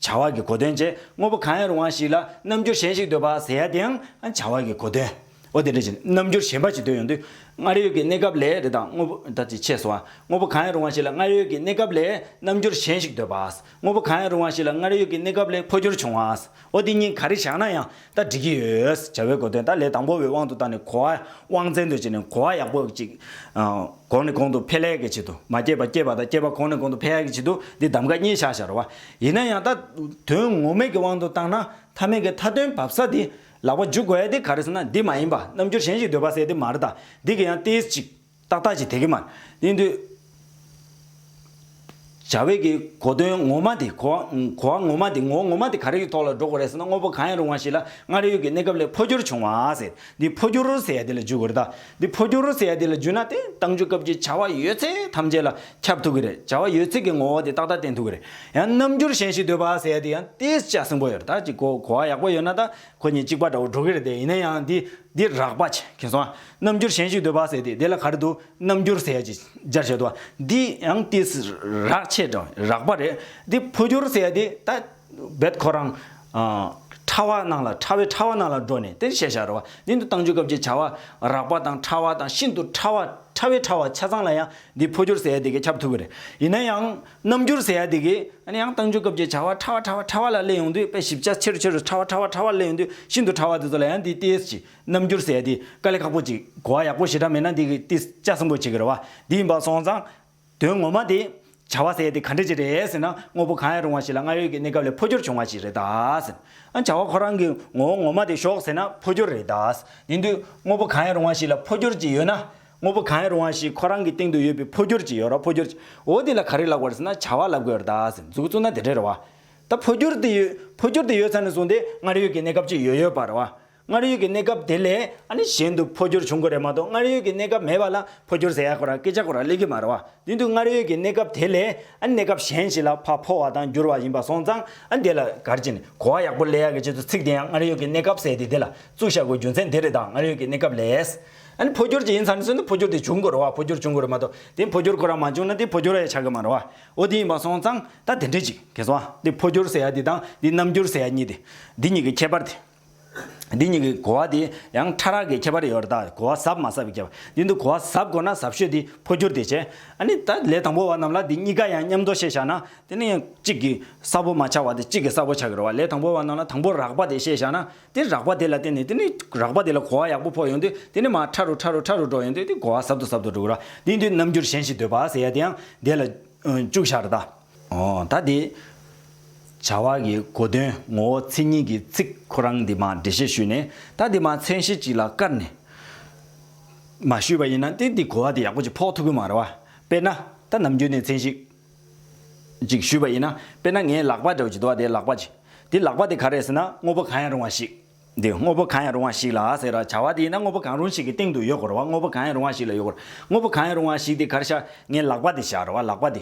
བྱ་བ་གི་གོ་དོན། དངོས་པོ་གང་ཡང་རུང་བ་ཞིག་ལ་རྣམ་འགྱུར་གཞན་ཞིག་འདོད་པ། འདི་ཡང་བྱ་བ་གི་གོ་དོན། ཨོ་དེ་འདྲ་ཞིག་རྣམ་འགྱུར་གཞན་པ་ཞིག་འདོད་ཡོང་དུས། སྔར་ཡོད་ཀྱི་གནས་སྐབས་ལས་རེ་དང་དངོས་པོ་དང་ཅིག་ཆད་སོང་བ། དངོས་པོ་གང་ཡང་རུང་བ་ཞིག་ལ་སྔར་ཡོད་ཀྱི་གནས་སྐབས་ལས་རྣམ་འགྱུར་གཞན་ཞིག་འདོད་པ། དངོས་པོ་གང་ཡང་རུང་བ་ཞིག་ལ་སྔར་ཡོད་ཀྱི་གནས་སྐབས་ལས་འཕོ་འགྱུར་བྱུང་བ། ཨོ་དེ་གཉིས་ག་རེ་བཞག་ན་ཡང་ད་འགྲིག་གི་ཡོད། བྱ་བའི་གོ་དོན་ད་ལས་དང་པོ་བའི་དབང་དུ་བཏང་ནས་གོ་བ་དབང་བཙན་དུ་བྱས་ནས་གོ་བ་ཡག་པོ་ཅིག་གོང་ནས་གོང་དུ་འཕེལ་ཡག་གི་ཆེད་དུ་མ་སྐྱེས་པ་སྐྱེས་པ་དང་སྐྱེས་པ་གོང་ནས་གོང་དུ་འཕེལ་ཡག་གི་ཆེད་དུ་འདི་གདམ་ག་གཉིས་བཞག་བཞག་རོགས། ཡིན་ན་ཡང་ད་དོན་ངོ་མེད་ཀྱི་དབང་དུ་བཏང་ན་མཐའ་མེད་ཀྱི་མཐའ་དོན་བབས་ས་དེ་ལག་པ་འཇུག་དགོས་ཏེ་ག་རེ་ཟེར་ན་འདི་མ་ཡིན་པ་རྣམ་འགྱུར་གཞན་ཞིག་འདོད་པ་བསལ་ཏེ་མར་དང་འདི་གི་ཡང་ཏེས་ཅིག་ཏག་ཏག་ཅིག་དེ་གི་མར་ཡིན་དུས། བྱ་བའི་གི་གོ་དོན་ངོ་མ་དེ་གོ་བ་ངོ་མ་དེ་ངོ་ངོ་མ་དེ་ག་རེ་གི་ཐོག་ལ་འགྲོ་དགོས་རེད་ཟེར་ན་དངོས་པོ་གང་ཡང་རུང་བ་ཞིག་ལ་སྔར་ཡོད་ཀྱི་གནས་སྐབས་ལས་འཕོ་འགྱུར་བྱུང་བ་ཟེར་འདི་འཕོ་འགྱུར་ཟེར་ཡ་དེ་ལ་འཇུག་དགོས་རེད་ད། འདི་འཕོ་འགྱུར་ཟེར་ཡ་དེ་ལ་རྒྱུས་ན་དེ་བཏང་འཇུག་སྐབས་ཀྱི་བྱ་བ་ཡོད་ཚད་ཐམས་ཅད་ལ་ཁྱབ་ཐུབ་ཀྱི་རེད་བྱ་བ་ཡོད་ཚད་ཀྱི་ངོ་བོ་དེ་ཏག་ཏག་བསྟན་ཐུབ་ཀྱི་རེད་ཡང་རྣམ་འགྱུར་གཞན་ཞིག་འདོད་པ་ཟེར་ཡ་དེ་ཡང་དེ་ཅག་སྲིན་པོ་ཡོད་རེད་ད་ཅིག་གོ་གོ་བ་ཡག་པོ་ཡོད་ན་ད་ཁོ་གཉིས་གཅིག་པ་འདྲ་བོ་འགྲོ་གི་རེད་དེ་ཡིན་ན་ཡང་འདི་འདི་རགས་པ་ཆེ་གི་སོང་ཨ་རྣམ་འགྱུར་གཞན་ཞིག་འདོད་པ་ཟེར་དེ་དེ་ལ་ག་རེ་འདུག་རྣམ་འགྱུར་ཟེར་ཡ་ཅིག་སྦྱར་བྱས་འདུག་ཨ་འདི་ཡང་དེ་རགས་ཆེ་དྲགས་རགས་པ་རེད་འདི་འཕོ་འགྱུར་ཟེར་ཡ་དེ་ད། རྦད་ཁོ་རང། ཕྲ་བ་སྣང་ལ་ཕྲ་བས་ཕྲ་བ་སྣང་ལ་འགྲོ་ནས་དེར་ཤེས་བྱ་རོལ་བ་ནི་འདི་བཏང་འཇུག་སྐབས་ཀྱི་བྱ་བ་རགས་པ་དང་ཕྲ་བ་དང་ཤིན་ཏུ་ཕྲ་བ་ཕྲ་བས་ཕྲ་བ་ཆ་ཚང་ལ་ཡང་འདི་འཕོ་འགྱུར་ཟེར་ཡ་དེ་ཀས་ཁྱབ་ཐུབ་ཀྱི་རེད། ཡིན་ན་ཡང། རྣམ་འགྱུར་ཟེར་ཡ་དེ་ཀས་ཡང་བཏང་འཇུག་སྐབས་ཀྱི་བྱ་བ་ཕྲ་བ་ཕྲ་བ་ཕྲ་བ་ལ་སླེབས་ཡོང་དུས་དཔེ་ཞིབ་ཆ་ཆེ་རུ་ཆེ་རུ་ཕྲ་བ་ཕྲ་བ་ཕྲ་བ་སླེབས་ཡོང་དུས་ཤིན་ཏུ་ཕྲ་བ་དེ་ཚོ་ལ་ཡང་འདི་ཏིས་ཀྱི་རྣམ་འགྱུར་ཟེར་ཡ་དེ་དཀའ་ལས་ཁག་པོ་ཅིག་གོ་བ་ཡག་པོ་ཞེ་དྲག་མེད་ན་འདི་ཀས་ཏིས་ཅག་སྲིན་པོ་བྱེད་ཀྱི་རེད་བ་འདི་ཡིན་པ་སོང་ཙང། དོན་ངོ་མ་དེ། བྱ་བ་ཟེར་ཡས་དེ་ག་འདྲ་ཅིག་རེད་ཟེར་ན་དངོས་པོ་གང་ཡང་རུང་བ་ཞིག་ལ་སྔར་ཡོད་ཀྱི་གནས་སྐབས་ལས་འཕོ་འགྱུར་བྱུང་བ་ཞིག་རེད་དཱ། ཨ་བྱ་བ་ཁོ་རང་གི་ངོ་བོ་ངོ་མ་དེ་ཞོག་ཟེར་ན་འཕོ་འགྱུར་རེད་དཱ། དེང་དུས་དངོས་པོ་གང་ཡང་རུང་བ་ཞིག་ལ་འཕོ་འགྱུར་གྱི་ཡོད་ན། དངོས་པོ་གང་ཡང་རུང་བ་ཞིག་ཁོ་རང་གི་སྟེང་དུ་ཡོད་པའི་འཕོ་འགྱུར་གྱི་ཡོད་ར་འཕོ་འགྱུར་གྱི་འོ་དེ་ལ་ག་རེ་ལབ་དགོས་ར་ཟེར་ན་བྱ་བ་ལབ་དགོས་ར་དཱ་ཟེར་འཛུགས་བཙུགས་ན་དེ་འདྲ་རེད་བ། ད་འཕོ་འགྱུར་དེ་ཡོད་འཕོ་འགྱུར་དེ་ཡོད་ས་ནས་བཟུང་སྟེ་སྔར་ཡོད་ཀྱི་གནས་སྐབས་ཅིག་ཡོད་ཡོད་པ་རེད་བ། སྔར་ཡོད་ཀྱི་གནས་སྐབས་དེ་ལས་ཨཱ་ནི་གཞན་དུ་འཕོ་འགྱུར་བྱུང་གི་རེད་མ་གཏོགས་སྔར་ཡོད་ཀྱི་གནས་སྐབས་མེད་པ་ལ་འཕོ་འགྱུར་ཟེར་ཡག་གོ་ར་སྐད་ཆ་གོ་ར་ལེགས་ཀྱི་མ་རེད་བ་དོན་དུ་སྔར་ཡོད་ཀྱི་གནས་སྐབས་དེ་ལས་ཨཱ་ནི་གནས་སྐབས་གཞན་ཞིག་ལ་ཕ་འཕོ་བ་དང་འགྱུར་བ་ཡིན་པ་སོང་ཙང་ཨཱ་དེ་ལ་གར་གྱི་ནི་གོ་བ་ཡག་པོ་ལེན་ཡག་གི་ཆེད་དུ་ཚིག་དེ་ཡང་སྔར་ཡོད་ཀྱི་གནས་སྐབས་ཟེར་ཏེ་དེ་ལ་བཙུགས་བཞག་གོ་རྒྱུ་མཚན་དེ་རེད་ད་སྔར་ཡོད་ཀྱི་གནས་སྐབས་ལས་ཨཱ་ནི་འཕོ་འགྱུར་གྱི་ཡིན་ཚར་ནས་བཟུང་ནི་འཕོ་འགྱུར་དེ་བྱུང་གི་རེད་བ་འཕོ་འགྱུར་བྱུང་གི་རེད་མ་གཏོགས་དེ་འཕོ་འགྱུར་གོ་ར་མ་བྱུང་ན་དེ་འཕོ་འགྱུར་ཡང་ཆགས་ཀྱི་མ་རེད་བ་འོ་དེ་ཡིན་པ་སོང་ཙང་ད་དེ་འདྲ་ཅིག་གལ་སོང་ཨཱ་དེ་འཕོ་འགྱུར་ཟེར་ཡ་དེ་དང་དེ་རྣམ་འགྱུར་ཟེར་ཡ་གཉིས་དེ་འདི་གཉིས་ཀྱི་ཁྱད་པར་དེ། འདི་གཉིས་ཀྱི་གོ་བ་དེ་ཡང་ཕྲ་རགས་ཀྱི་ཁྱད་པར་ཡོད་པར་བརྟག་གོ་བ་ཟབ་མ་ཟབ་ཀྱི་ཁྱད་པར་འདི་འདུག་གོ་བ་ཟབ་གོ་ན་ཟབ་ཤོས་དེ་འཕོ་འགྱུར་དེ་བྱེད། ཨ་ནི་ད་ལས་དང་པོ་བ་རྣམས་ལ་འདི་གཉིས་ཀ་ཡང་མཉམ་དུ་བཤད་བཞག་ན་དེ་ནི་གཅིག་གིས་གསལ་པོ་མ་ཆགས་བ་དེ་གཅིག་གིས་གསལ་པོ་ཆགས་ཀྱི་རེད་བ་ལས་དང་པོ་བ་རྣམས་ལ་དང་པོ་རགས་པ་དེ་བཤད་བཞག་ན་དེ་རགས་པ་དེ་ལ་བརྟེན་ནས་དེ་ནི་རགས་པ་དེ་ལ་གོ་བ་ཡག་པོ་འཕོ་ཡོང་དུས་དེ་ནི་མ་ཕྲ་རུ་ཕྲ་རུ་ཕྲ་རུ་འགྲོ་ཡོང་དུས་དེ་གོ་བ་ཟབ་ཏུ་ཟབ་ཏུ་འགྲོ་གི་རེད་བ་འདིའི་འདུས་རྣམ་འགྱུར་གཞན་ཞིག་འདོད་པ་ཟེར་ཡ་དེ་ཡང་འདས་ལ་བཅུག་བཞག་རེད་ད། ད་དེ། བྱ་བ་གི་གོ་དོན་ངོ་བོ་མཚན་ཉིད་ཀྱི་ཚིག་ཁོ་རང་འདི་མ་འབྲི་ཞེས་ཞུས་ནས་ད་དེ་མ་མཚན་གཞི་གཅིག་ལ་བཀར་ནས། མ་ཞུས་པ་ཡིན་ན་ཏེ་འདི་གོ་བ་དེ་ཡག་པོ་ཅིག་ཕོག་ཐུག་གི་མ་རེད་བ། དཔེར་ན། ད་ནམ་རྒྱུན་ནས་མཚན་གཞི། ཅིག་ཞུས་པ་ཡིན་ན་དཔེར་ན་ངའི་ལག་པ་འདྲ་བོ་ཅིག་འདུག་བ་དེ་ལག་པ་ཅིག་དེ་ལག་པ་དེ་ག་རེད་ཟེར་ན་དངོས་པོ་གང་ཡང་རུང་བ་ཞིག། འདི་དངོས་པོ་གང་ཡང་རུང་བ་ཞིག་ལ་ཟེར་ར་བྱ་བ་དེ་ཡིན་ན་དངོས་པོ་གང་རུང་ཞིག་གི་སྟེང་དུ་ཡོད་དགོས་ར་བ་དངོས་པོ་གང་ཡང་རུང་བ་ཞིག་ལ་ཡོད་དགོས་ར་དངོས་པོ་གང་ཡང་རུང་བ་ཞིག་དེ་གར་བཞག་ངའི་ལག་པ་དེ་བཞག་ར་བ་ལག་པ་དེ་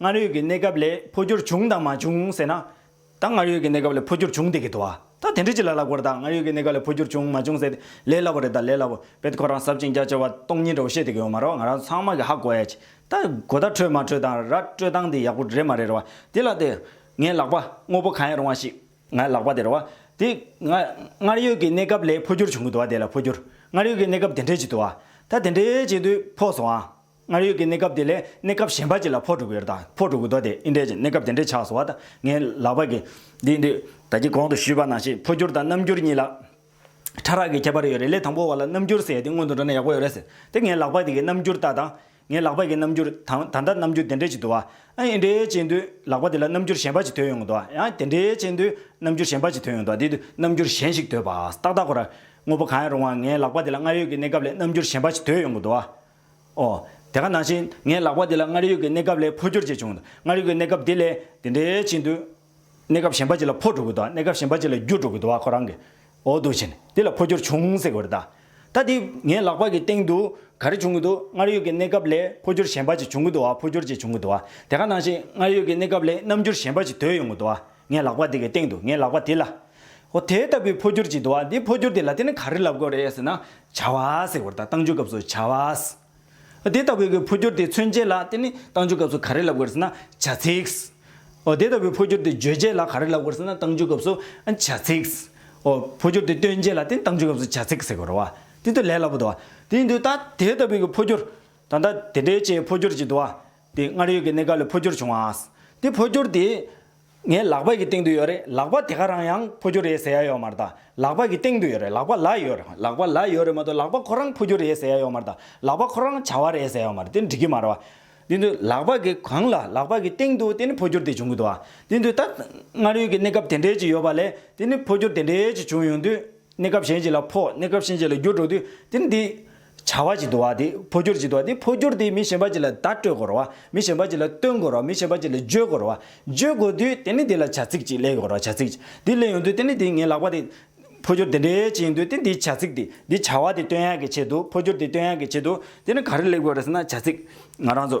སྔར་ཡོད་ཀྱི་གནས་སྐབས་ལས་འཕོ་འགྱུར་བྱུང་དང་མ་བྱུང་ཟེར་ན། ད་སྔར་ཡོད་ཀྱི་གནས་སྐབས་ལས་འཕོ་འགྱུར་བྱུང་སྟེ་གི་དོ་ཨ། ད་དེ་འདྲི་ཅི་ལ་སླ་གོ་ད་སྔར་ཡོད་ཀྱི་གནས་སྐབས་ལས་འཕོ་འགྱུར་བྱུང་མ་བྱུང་ཟེར་ཏེ་ལས་སླ་བོ་རེད་ད་ལས་སླ་བོ་བེད་ཁོ་རང་ཟབ་ཅིང་རྒྱ་ཆེ་བ་སྟོང་ཉིད་འདྲ་བོ་བཤད་དེ་གི་ཡོད་མ་རེད་བ་ང་རང་ཚང་མ་གི་ཧ་གོ་ཨེ། ད་གོ་བརྡ་འཕྲོད་མ་འཕྲོད་དང་ར་སྤྲོད་སྟངས་དེ་ཡག་པོ་རེད་མ་རེད་རེད་བ་དེ་ལ་དེ། ངའི་ལག་པ་དངོས་པོ་གང་ཡང་རུང་བ་ཞིག་ངའི་ལག་པ་དེ་རེད་བ་དེ། སྔར་ཡོད་ཀྱི་གནས་སྐབས་ལས་འཕོ་འགྱུར་བྱུང་གི་དོ་ཨ་དེ་ལ་འཕོ་འགྱུར་སྔར་ཡོད་ཀྱི་གནས་སྐབས་དེ་འདྲས་ཀྱི་དོ་ཨ། ད་དེ་འདྲས་ཀྱི་དུས་འཕོ་སོང་ཨ། སྔར་ཡོད་ཀྱི་གནས་སྐབས་དེ་ལས་གནས་སྐབས་གཞན་པ་གཅིག་ལ་ཕོག་དྲུག་ཡོད་དང་ཕོག་དྲུག་གི་མདོ་དེ་ཨིནྡྲའི་གནས་སྐབས་དེ་འདྲའི་ཆགས་སོ་བ་དང་ངའི་ལག་པ་གི། འདི་འདི་ད་ཀྱི་གོང་དུ་ཞུས་པ་ནང་བཞིན་འཕོ་འགྱུར་དང་རྣམ་འགྱུར་གཉིས་ལ། ཕྲ་རགས་ཀྱི་ཁྱད་པར་ཡོད་རེད་ལས་དང་པོ་བ་ལ་རྣམ་འགྱུར་ཟེར་ཡས་དེ་སྔོན་དུ་འགྲོ་ན་ཡག་པོ་ཡོད་རེད་ཟེར་དེ་ངའི་ལག་པ་དེ་གི་རྣམ་འགྱུར་ལྟ་དང། ངའི་ལག་པ་གི་རྣམ་འགྱུར་དང་ད་ལྟ་རྣམ་འགྱུར་དེ་འདྲའི་གཅིག་འདུག་ཨ་ཨེ་འདྲའི་གཅིག་འདུག་ལག་པ་དེ་ལ་རྣམ་འགྱུར་གཞན་པ་གཅིག་དོད་ཡོང་གི་འདུག་ཨ་ཡ་དེ་འདྲའི་གཅིག་འདུག་རྣམ་འགྱུར་གཞན་པ་གཅིག་དོད་ཡོང་གི་འདུག་དེ་དུས་རྣམ་འགྱུར་གཞན་ཞིག་དོད་པ་ཏག་ཏག་གོ་ར། དངོས་པོ་གང་ཡང་རུང་བ་ངའི་ལག་པ་དེ་ལ་སྔར་ཡོད་ཀྱི་གནས་སྐབས་ལས་རྣམ་འགྱུར་གཞན་པ་གཅིག་དོད་ཡོང་གི་འདུག་ཨ། ཨོ། དེ་ག་ནང་བཞིན་ངའི་ལག་པ་འདི་ལ་སྔར་ཡོད་ཀྱི་གནས་སྐབས་ལས་འཕོ་འགྱུར་བྱས་བྱུང། སྔར་ཡོད་ཀྱི་གནས་སྐབས་དེ་ལས་དེ་འདྲའི་ཅི་འདུག། གནས་སྐབས་གཞན་པ་ཅིག་ལ་འཕོ་འགྲོ་གི་འདུག་ཨ་གནས་སྐབས་གཞན་པ་ཅིག་ལ་འགྱུར་འགྲོ་གི་འདུག་ཨ་ཁོ་རང་གི་འོ་འདུག་བཞིན་དེ་ལ་འཕོ་འགྱུར་བྱུང་ཟེར་གི་རེད་ད། ད་དེ་ངའི་ལག་པ་གི་སྟེང་དུ་ག་རེ་བྱུང་གི་འདུག་སྔར་ཡོད་ཀྱི་གནས་སྐབས་ལས་འཕོ་འགྱུར་གཞན་པ་ཅིག་བྱུང་གི་འདུག་ཨ་འཕོ་འགྱུར་ཅིག་བྱུང་གི་འདུག་ཨ་དེ་ག་ནང་བཞིན་སྔར་ཡོད་ཀྱི་གནས་སྐབས་ལས་རྣམ་འགྱུར་གཞན་པ་ཅིག་དོད་ཡོང་གི་འདུག་ཨ། ངའི་ལག་པ་དེ་གའི་སྟེང་དུ་ངའི་ལག་པ་དེ་ལ། ཨོ་དེ་ལྟ་བུའི་འཕོ་འགྱུར་ཅིག་འདུག་ཨ་འདིའི་འཕོ་འགྱུར་དེ་ལ་དེ་ནི་ག་རེ་ལབ་དགོས་རེད་ཟེར་ན། བྱ་བ་ཟེར་བར་ད་གཏང་རྒྱུའི་སྐབས་སུ་བྱ་བ། ཨོ་དེ་ལྟ་བུའི་གའི་འཕོ་འགྱུར་དེ་མཚོན་བྱེད་ལ་དེ་ནི་གཏང་རྒྱུའི་སྐབས་སུ་ག་རེ་ལབ་དགོས་ཟེར་ན། བྱ་ཚིག། ཨོ་དེ་ལྟ་བུའི་འཕོ་འགྱུར་དེ་བརྗོད་བྱེད་ལ་ག་རེ་ལབ་དགོས་ཟེར་ན་གཏང་རྒྱུའི་སྐབས་སུ། བྱ་ཚིག། ཨོ་འཕོ་འགྱུར་དེ་སྟོན་བྱེད་ལ་དེ་ནི་གཏང་རྒྱུའི་སྐབས་སུ་བྱ་ཚིག་ཟེར་དགོས་རོ། དེ་ལྟར་ལས་སླ་པོ་འདུག་ཨ་དེ་ཡིན་དུས་ད་དེ་ལྟ་བུའི་གའི་འཕོ་འགྱུར། ད་ལྟ་དེ་འདྲའི་ཆེའི་འཕོ་འགྱུར་ཅིག་འདུག་ཨ། དེ་སྔར་ཡོད་ཀྱི་གནད་འགག་ལས་འཕོ་འགྱུར་བྱུང་བ། དེ་འཕོ་འགྱུར་དེ། ངའི་ལག་པ་ཡི་སྟེང་དུ་ཡོད་རེད་ལག་པ་དེ་ག་རང་ཡང་འཕོ་འགྱུར་རེད་ཟེར་ཡ་ཡོད་མ་རེད་ད། ལག་པ་གི་སྟེང་དུ་ཡོད་རེད་ལག་པ་ལ་ཡོད་རེད་ལག་པ་ལ་ཡོད་རེད་མ་གཏོགས་ལག་པ་ཁོ་རང་འཕོ་འགྱུར་རེད་ཟེར་ཡ་ཡོད་མ་རེད་ད། ལག་པ་ཁོ་རང་བྱ་བ་རེད་ཟེར་ཡ་ཡོད་མ་རེད་དེ་འགྲིག་གི་མ་རེད་བ། དེ་དུས་ལག་པ་གི་གང་ལ་ལག་པ་གི་སྟེང་དུ་དེ་ནི་འཕོ་འགྱུར་དེ་བྱུང་གི་འདུག་བ། དེ་དུས་ད། སྔར་ཡོད་ཀྱི་གནས་སྐབས་དེ་འདྲས་ཅིག་ཡོད་པ་ལས་དེ་ནི་འཕོ་འགྱུར་དེ་འདྲས་ཅིག་བྱུང་ཡོང་དུས། གནས་སྐབས་གཞན་ཅིག་ལ་འཕོ་གནས་སྐབས་གཞན་ཅིག་ལ་འགྱུར་འགྲོ་དུས་དེ་ནི་དེ། བྱ་བ་ཅིག་དུ་བ་དེ་འཕོ་འགྱུར་ཅིག་དུ་བ་དེ་འཕོ་འགྱུར་དེ་མི་གཞན་པ་ཅིག་ལ་བརྡ་སྤྲོད་དགོས་རུང་བ་མི་གཞན་པ་ཅིག་ལ་སྟོན་དགོས་རུང་བ་མི་གཞན་པ་ཅིག་ལ་བརྗོད་དགོས་རུང་བ་བརྗོད་དགོས་དུས་དེ་ནི་དེ་ལ་བྱ་ཚིག་ཅིག་གླེང་དགོས་རུང་བ་བྱ་ཚིག་དེ་གླེང་ཡོང་དུས་དེ་ནི་དེ་ངའི་ལག་པ་དེ། འཕོ་འགྱུར་དེ་འདྲའི་ཅིག་ཡིན་དུས་དེ་འདིའི་བྱ་ཚིག་དེ་འདི་བྱ་བ་དེ་སྟོན་ཡག་གི་ཆེད་དུ་འཕོ་འགྱུར་དེ་སྟོན་ཡག་གི་ཆེད་དུ་དེ་ནི་ག་རེ་གླེང་དགོས་རེད་ཟེར་ན་བྱ་ཚིག་ང་རང་ཚོ་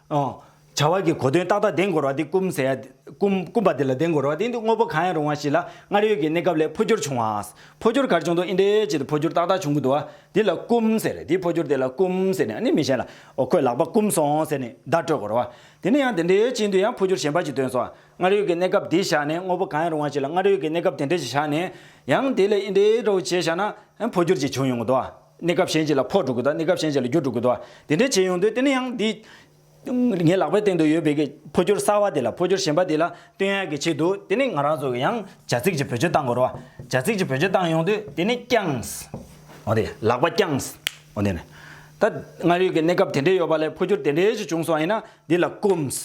ཨང། བྱ་བ་གི་གོ་དོན་ཏག་ཏག་ལྡན་འགོར་བ་དེ་སྐུམ་ཟེར་ཡ། སྐུམ། སྐུམ་པ་དེ་ལ་ལྡན་འགོར་བ་དེ་འདུག་དངོས་པོ་གང་ཡང་རུང་བ་ཞིག་ལ་སྔར་ཡོད་ཀྱི་གནས་སྐབས་ལས་འཕོ་འགྱུར་བྱུང་བ། འཕོ་འགྱུར་གར་བྱུང་འདུག་ཨིན་དྲའི་ཆེད་དུ་འཕོ་འགྱུར་ཏག་ཏག་བྱུང་གི་འདུག་བ། དེ་ལ་སྐུམ་ཟེར། དེའི་འཕོ་འགྱུར་དེ་ལ་སྐུམ་ཟེར་ནས་ནི་མི་གཞན་ལ། འོ་ཁོས་ལག་པ་སྐུམ་སོང་ཟེར་ནས་བརྡ་སྤྲོད་འགོར་བ། དེ་ནི་ཡང་དེ་འདྲའི་ཆེད་དུ་ཡང་འཕོ་འགྱུར་གཞན་པ་ཞིག་ཐོན་སོང་བ། སྔར་ཡོད་ཀྱི་གནས་སྐབས་དེ་བཞག་ནས་དངོས་པོ་གང་ཡང་རུང་བ་ཞིག་ལ་སྔར་ཡོད་ཀྱི་གནས་སྐབས་དེ་འདྲ་ཞིག་བཞག་ནས། ཡང་དེ་ལས་ཨིན་དྲའི་སྒྲ་འོ་བྱས་བཞག་ན། ཡང་འཕོ་འགྱུར་ཅིག་བྱུང་ཡོང་གི་འདུག་བ། གནས་སྐབས་གཞན་ཞིག་ལ་ཕོག་འགྲོ་དགོས་དང་གནས་སྐབས་གཞན་ཞིག་ལ་རྒྱུ་འགྲོ་དགོས་དོ། དེ་འདྲའི་བྱེད་ཡོང་དུས་དེ་ནི་ཡང་འདི། ངའི་ལག་པའི་སྟེང་དུ་ཡོད་པའི་གི་འཕོ་འགྱུར་གསར་བ་དེ་ལ་འཕོ་འགྱུར་གཞན་པ་དེ་ལ་བསྟུན་ཡག་གི་ཆེད་དུ་དེ་ནི་ང་རང་ཚོ་གི་ཡང་བྱ་ཚིག་གཅིག་བེད་སྤྱོད་བཏང་དགོས་རོ། བྱ་ཚིག་གཅིག་བེད་སྤྱོད་བཏང་ཡོང་དུས་དེ་ནི་བརྐྱངས། འོ་དེ་ལག་པ་བརྐྱངས། འོ་དེ་ནི། ད་སྔར་ཡོད་ཀྱི་གནས་སྐབས་དེ་འདྲའི་ཡོད་པ་ལས་འཕོ་འགྱུར་དེ་འདྲའི་ཞིག་བྱུང་སོང་བ་ཡིན་ན་འདི་ལ་བསྐུམས།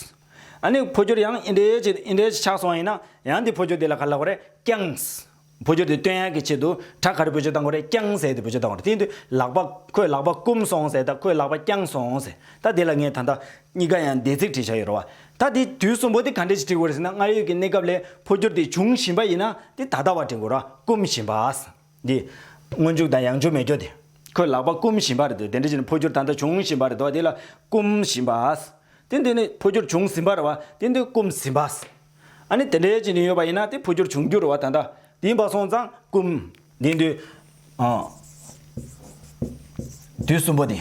ཨ་ནི་འཕོ་འགྱུར་ཡང་འི་འདྲའི་ཞིག་འི་འདྲའི་ཞིག་ཆགས་སོང་བ་ཡིན་ན་ཡང་འདི་འཕོ་འགྱུར་དེ་ལ་ག་ལ་དགོས་རེད་བརྐྱངས། འཕོ་འགྱུར་དེ་སྟོན་ཡག་གི་ཆེད་དུ་བྲག་ཁར་བུ་ཆུ་དང་གོ་རེ་རྐྱང་ཟེར་ཏེ་བུ་ཆུ་བཏང་བར་དེའི་དུས་ལག་པ། ཁོས་ལག་པ་བསྐུམ་སོང་ཟེར་ད་ཁོས་ལག་པ་བརྐྱངས་སོང་ཟེར་ད་དེ་ལ་ངས་ད་ལྟ། གཉིས་ཀ་ཡང་འདས་ཚིག་བྲིས་བཞག་ཡོད་རེད་བ། ད་དེ་དུས་གསུམ་པོ་དེ་ག་འདྲས་ཀྱི་བྲིས་དགོས་རེད་ཟེར་ན་སྔར་ཡོད་ཀྱི་གནས་སྐབས་ལས་འཕོ་འགྱུར་དེ་བྱུང་བཞིན་པ་ཡིན་ན་དེ་ད་ལྟ་བ་བྲིས་དགོས་ར་བསྐུམ་བཞིན་པ། འདི། སྔོན་འཇུག་དང་ཡང་འཇུག་མེད་སྐྱོ་དེ། ཁོས་ལག་པ་བསྐུམ་བཞིན་པ་རེད་དེ་དེ་འདྲས་ཀྱི་ནི་འཕོ་འགྱུར་ད་ལྟ་བྱུང་བཞིན་པ་རེད་དོ་བ་དེ་ལ་བསྐུམ་བཞིན་པ། དེ་འདི་ནི་འཕོ་འགྱུར་བྱུང་ཟིན་པ་རེད་བ་དེ་འདི་བསྐུམ་ཟིན་པ། ཨ་ནི་དེ་འདྲའི་ཅིག་ནི་ཡོད་པ་ཡིན་ན་དེ་འཕོ་འགྱུར་འབྱུང་འགྱུར་བ་ད་ལྟ་དེའི་བ་སོང་ཙང་ཀུན། དེའི་དུས། དུས་གསུམ་པོ་དེ།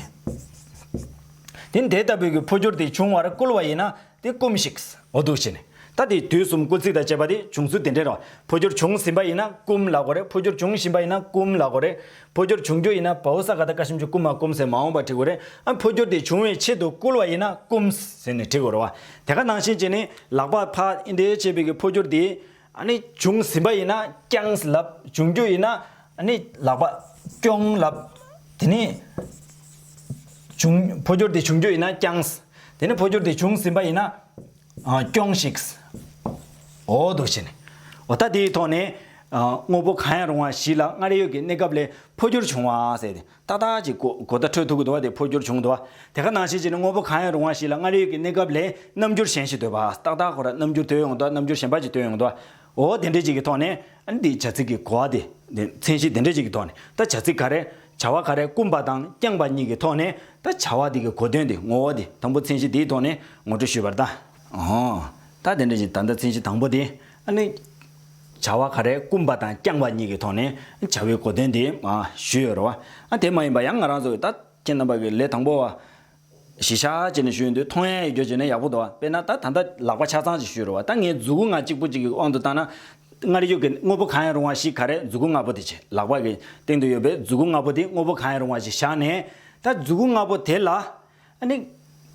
དེ་ནི་དེ་ལྟ་བུའི་གི་འཕོ་འགྱུར་དེ་འབྱུང་བར་བསྐུལ་བ་ཡིན་ན་དེ་སྐུམ་ཞིག། འོ་དུ་ཞེས་ནི། ད་དེ་དུས་གསུམ་སྐུལ་ཚིག་དང་བཅས་པ་དེ་བྱུང་ཚུལ་དེ་འདྲའི་རོ། འཕོ་འགྱུར་བྱུང་ཟིན་པ་ཡིན་ན་སྐུམ་ལ་གོ་རེ་འཕོ་འགྱུར་འབྱུང་བཞིན་པ་ཡིན་ན་སྐུམ་ལ་གོ་རེ། འཕོ་འགྱུར་འབྱུང་རྒྱུ་ཡིན་ན་བའོ་ས་ག་ད་ཀ་ཤམ་ཆུ་བསྐུམ་མ་བསྐུམ་ཟེར་མ་འོངས་པ་དྲི་གོ་རེད་ཨ་འཕོ་འགྱུར་དེ་འབྱུང་བའི་ཆེད་དུ་བསྐུལ་བ་ཡིན་ན་བསྐུམ་ཟེར་ནས་དྲི་གོ་རོ། དེ་ག་ནང་བཞིན་བྱས་ནས་ལག་པ་ཕ་ཨིན་དེ་བྱས་པའི་གི་འཕོ་འགྱུར་དེ་ཨ་ནི་འབྱུང་ཟིན་པ་ཡིན་ན་བསྐྱང་ཟིན་ལབ་འབྱུང་རྒྱུ་ཡིན་ན་ཨ་ནི་ལག་པ་བསྐྱོང་ལབ། དེ་ནི་འབྱུང་འཕོ་འགྱུར་དེ་འབྱུང་རྒྱུ་ཡིན་ན་བསྐྱང། དེ་ནི་འཕོ་འགྱུར་དེ་འབྱུང་ཟིན་པ་ཡིན་ན། སྐྱོངས་ཤིག། འོ་འདུག་བྱས་ནས། འོ་ད་དེའི་ཐོག་ནས། དངོས་པོ་གང་ཡང་རུང་བ་བཞི་ལ་སྔར་ཡོད་ཀྱི་གནས་སྐབས་ལས་འཕོ་འགྱུར་བྱུང་བ་ཟེར་ཏེ། ཏག་ཏག་ཅིག་གོ། གོ་བརྡ་འཕྲོད་ཐུབ་དགོས་འདུག་བ་དེ་འཕོ་འགྱུར་བྱུང་འདུག་བ། དེ་ག་ནང་བཞིན་བྱས་ནས་དངོས་པོ་གང་ཡང་རུང་བ་བཞི་ལ་སྔར་ཡོད་ཀྱི་གནས་སྐབས་ལས་རྣམ་འགྱུར་གཞན་ཞིག་དོད་པ། ཏག་ཏག་གོ། རྣམ་འགྱུར་དོད་ཡོང་དུ་བ་རྣམ་འགྱུར་གཞན་པ་ཅིག་དོད་ཡོང་དུ་བ། འོ་དེ་འདྲའི་ཅིག་གི་ཐོག་ནས་ཨ་འདིས་བྱ་ཚིག་གི་གོ་བ་དེ། མཚན་གཞི་དེ་འདྲའི་ཅིག་གི་ཐོག་ནས་ད་བྱ་ཚིག་ག་རེ། བྱ་བ་ག་རེ་བསྐུམས་པ་དང་བསྐྱངས་པ་གཉིས་ཀྱི་ཐོག་ནས་ད་བྱ་བ་དེ་གི་གོ་དོན་དེ་ངོ་བོ་དེ་དང་པོ་མཚན་གཞི་དེའི་ཐོག་ནས་ངོ་སྤྲོད་ཞུས་པར་ད། འོ། ད་དེ་འདྲའི་ཅིག་ད་ལྟ་མཚན་གཞི་དང་པོ་དེ་ཨ་ནི། བྱ་བ་ག་རེ་བསྐུམས་པ་དང་བསྐྱངས་པ་གཉིས་ཀྱི་ཐོག་ནས་བྱ་བའི་གོ་དོན་དེ། ཞུས་ཡོད་རེད་བ། ཨ་དེ་མ་ཡིན་པ་ཡང་ང་རང་ཚོ་གི་ད་ཁྱེད་རྣམ་པ་གི་ལས་དང་པོ་བ། གཞི་ཆག་བྱས་ནས་ཞུས་འདུག་མཐོང་ཡ་ཡི་རྒྱོ་བྱས་ན་ཡག་པོ་འདུག་དཔེར་ན་ད་ད་ལྟ་ལག་པ་ཆ་ཚང་ཅིག་བཤུས་རོགས་བ་ད་ངའི་རྫུ་གུ་ང་གཅིག་པོ་གཅིག་གི་དབང་དུ་བཏང་ན། སྔར་ཡོད་ཀྱི་དངོས་པོ་གང་ཡང་རུང་བ་ཞིག་ག་རེ་རྫུ་གུ་ལྔ་པོ་དེ་བྱས་ལག་པ་གི་སྟེང་དུ་ཡོད་པའི་རྫུ་གུ་ལྔ་པོ་དེ་དངོས་པོ་གང་ཡང་རུང་བ་ཞིག་བཞག་ནས། ད་རྫུ་གུ་ལྔ་པོ་དེ་ལ། ནི།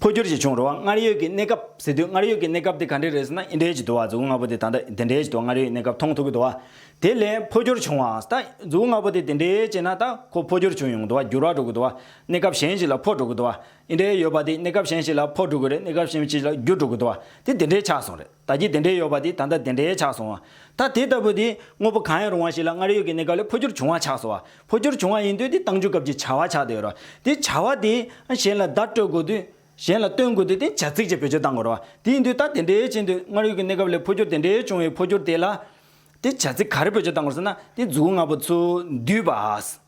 འཕོ་འགྱུར་ཞིག་བྱུང་རོགས་བ་སྔར་ཡོད་ཀྱི་གནས་སྐབས་ཟེར་དུས་སྔར་ཡོད་ཀྱི་གནས་སྐབས་དེ་ག་འདྲས་རེད་ཟེར་ན་འི་འདྲས་ཅིག་འདུག་བ་རྫུ་གུ་ལྔ་པོ་དེ་ད་ལྟ་འདི་འདྲས་ཅིག་འདུག་སྔར་ཡོད་ཀྱི་གནས་སྐབས་མཐོང་ཐུབ་ཀྱི་འདུག་བ། དེ་ལས་འཕོ་འགྱུར་བྱུང་བའང་ད་རྫུ་གུ་ལྔ་པོ་དེ་དེ་འདྲས་བྱས་ན་ད་ཁོ་འཕོ་འགྱུར་བྱུང་ཡོང་གི་འདུག་བ་འགྱུར་བ་འགྲོ་གི་འདུག་བ། གནས་སྐབས་གཞན་ཞིག་ལ་ཕོག་འགྲོ་དགོས་འདུག་བ། འི་འདྲའི་ཡོད་པ་འདི་གནས་སྐབས་གཞན་ཞིག་ལ་ཕོག་འགྲོ་དགོས་རེད་གནས་སྐབས་གཞན་ཞིག་ལ་བསྒྱུར་འགྲོ་དགོས་འདུག་བ། དེ་དེ་འདྲའི་ཆགས་སོང་རེད་ད་ཀྱི་དེ་འདྲའི་ཡོད་པ་འདི་ད་ལྟ་དེ་འདྲའི་ཆགས་སོང་བ། ད་དེ་ལྟ་བུ་འདི་དངོས་པོ་གང་ཡང་རུང་བ་ཞིག་ལ་སྔར་ཡོད་ཀྱི་གནས་སྐབས་ལས་འཕོ་འགྱུར་བྱུང་བ་ཆགས་སོང་བ། འཕོ་འགྱུར་བྱུང་བ་ཡིན་དུས་དེ་བཏང་འཇུག་སྐབས་ཀྱི་བྱ་བ་ཆགས་དེ་རོ། དེ་བྱ་བ་དེ་གཞན་ལ་བརྡ་སྤྲོད་དགོས་དུས། གཞན་ལ་སྟོན་དགོས་དུས་དེ་བྱ་ཚིག་ཅེས་བེད་སྤྱོད་བཏང་དགོས་རོ། དེ་ཡིན་དུས་ད་དེ་འདྲའི་ཕྱིན་དུས་སྔར་ཡོད་ཀྱི་གནས་སྐབས་ལས་འཕོ་འགྱུར་དེ་འདྲའི་བྱུང་བའི་འཕོ་འགྱུར་དེ་ལ། དེ་བྱ་ཚིག་ག་རེ་བེད་སྤྱོད་བཏང་དགོས་ཟེར་ན་དེ་རྫུ་བོ་ལྔ་པོ་ཚུལ་འདུས་པ།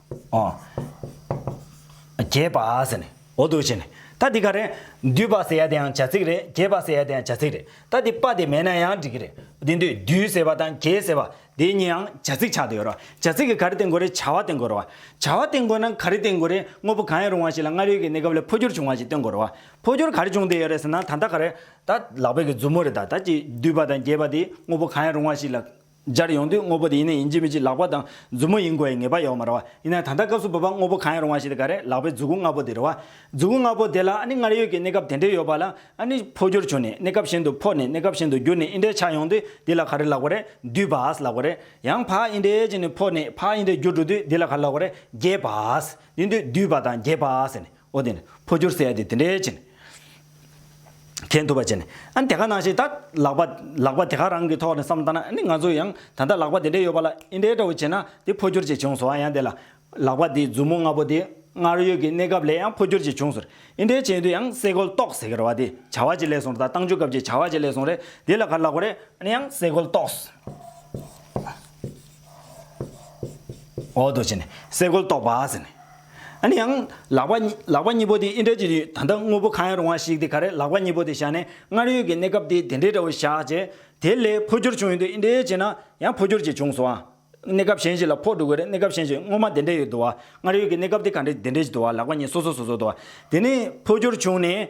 རྒྱས་པ་ཟེར་ནས་འོ་དོ་བྱས་ནས། ད་འདི་ག་རེད། འདུས་པ་ཟེར་ཡ་དེ་ཡང་བྱ་ཚིག་རེད་རྒྱས་པ་ཟེར་ཡ་དེ་ཡང་བྱ་ཚིག་རེད་ད་འདི་པ་དེ་མེད་ན་ཡང་འགྲིག་གི་རེད། དེ་འདུས་འདུས་ཟེར་བ་དང་རྒྱས་ཟེར་བ་དེ་གཉིས་ཡང་བྱ་ཚིག་ཆགས་ཏེ་ཡོད་རོགས་བྱ་ཚིག་གི་ག་རེ་བསྟེན་དགོས་རེད་བྱ་བ་བསྟེན་དགོས་རོགས། བྱ་བ་བསྟེན་དགོས་ན་ག་རེ་བསྟེན་དགོས་རེད་དངོས་པོ་གང་ཡང་རུང་བ་ཞིག་ལ་སྔར་ཡོད་ཀྱི་གནས་སྐབས་ལས་འཕོ་འགྱུར་བྱུང་བ་ཞིག་བསྟེན་དགོས་རོགས། འཕོ་འགྱུར་ག་རེ་བྱུང་སྟེ་ཡོད་རེད་ཟེར་ན་ད་ལྟ་ག་རེད། ད་ལག་པས་ཀྱི་མཛུབ་མོ་རེད་ད་ད་ཀྱི་འདུས་པ་དང་རྒྱས་པ་དེ་དངོས་པོ་གང་ཡང་རུང་བ་ཞིག་ལ། སྦྱར་ཡོང་དུས་དངོས་པོ་དེ་ཡིན་ན་ཡིན་གཅིག་མིན་གཅིག་ལག་པ་དང་མཛུབ་མོ་ཡིན་དགོས་ཡི་ངེས་པ་ཡོད་མ་རེད་བ། ཡིན་ན་ད་ལྟ་སྐབས་སུ་བབ་པ་དངོས་པོ་གང་ཡང་རུང་བ་ཞིག་དེ་ག་རེད་ལག་པའི་མཛུབ་གུ་ལྔ་པོ་དེ་རེད་བ། མཛུབ་གུ་ལྔ་པོ་དེ་ལ་ཨ་ནི་སྔར་ཡོད་ཀྱི་གནས་སྐབས་དེ་འདྲས་ཡོད་པ་ལ་ཨ་ནི་འཕོ་འགྱུར་བྱུང་ནས་གནས་སྐབས་གཞན་དུ་འཕོ་ནས་གནས་སྐབས་གཞན་དུ་འགྱུར་ནས་ཨི་འདྲས་ཆགས་ཡོང་དུས་འདི་ལ་ག་རེ་ལག་པ་རེད་འདུས་པཱས་ལག་པ་རེད། ཡང་ཕ་ཨི་འདྲས་ཅིག་ནས་འཕོ་ནས་ཕ་ཨི་འདྲས་འགྱུར་འགྲོ་དུས་འདི་ལ་ག་རེ་ལག་པ་རེད་རྒྱས་པཱས། དེ་འདུས་འདུས་པཱ་དང་རྒྱས་པཱས་ཟེར་ནས། ཨོ་དེ་ནི་འཕོ་འགྱུར་ཟེར་ཡ་དེ་དེ་འདྲའི་བྱས་ནས། ཁེན་ཐུབ་པ་བྱས་ནས། ཨ་ནི་དེ་ག་ནང་བཞིན་ད་ལག་པ་ལག་པ་དེ་ག་རང་གི་ཐོག་ནས་བསམ་བལྟ་ན་ཨ་ནི་ང་ཚོ་ཡང་ད་ལྟ་ལག་པ་དེ་འདྲའི་ཡོད་པ་ལ་ཨི་འདྲའི་འདྲ་བོ་བྱས་ན་དེ་འཕོ་འགྱུར་བྱས་བྱུང་ཟེར་བ་ཡང་དེ་ལ། ལག་པ་དེའི་མཛུབ་མོ་ལྔ་པོ་དེ་སྔར་ཡོད་ཀྱི་གནས་སྐབས་ལས་ཡང་འཕོ་འགྱུར་བྱས་བྱུང་ཟེར། ཨི་འདྲའི་བྱས་དུས་ཡང་སེ་གོལ་གཏོགས་ཟེར་གི་ར་བ་དེ་བྱ་བ་ཅི་ལས་སོང་ར་ད་བཏང་འཇུག་སྐབས་ཀྱི་བྱ་བ་ཅི་ལས་སོང་རེད་དེ་ལ་ག་ལ་གོ་རེད་ཨ་ནི་ཡང་སེ་གོལ་གཏོགས། ཨོ་དོ་བྱས་ནས་སེ་གོལ་གཏོགས་པ་ཟེར་ནས། ཡིན། ཡང་ལག་པ། ལག་པ་གཉིས་པོ་དེ་ཨིན་དྲ་གྱི་ཡུལ་ད་ལྟ་དངོས་པོ་གང་ཡང་རུང་བ་ཞིག་དེ་ག་རེད་ལག་པ་གཉིས་པོ་དེ་བཞག་ནས་སྔར་ཡོད་ཀྱི་གནས་སྐབས་དེ་དེ་འདྲའི་འདྲ་བོ་བཞག་རྗེས། དེ་ལས་འཕོ་འགྱུར་བྱུང་ཡོད་འདུག་ཨིན་དྲའི་རྗེས་ན་ཡང་འཕོ་འགྱུར་གྱིས་བྱུང་སོང་ཨ། གནས་སྐབས་གཞན་ཞིག་ལ་ཕོག་འགྲོ་གི་རེད་གནས་སྐབས་གཞན་ཞིག་སྔོན་མ་དེ་འདྲས་ཡོད་འདུག་ཨ། སྔར་ཡོད་ཀྱི་གནས་སྐབས་དེ་ག་འདྲས་དེ་འདྲས་ཀྱི་འདུག་ཨ་ལག་པ་གཉིས་སོ་སོ་སོ་སོ་འདུག་ཨ། དེ་ནས་འཕོ་འགྱུར་བྱུང་ནས།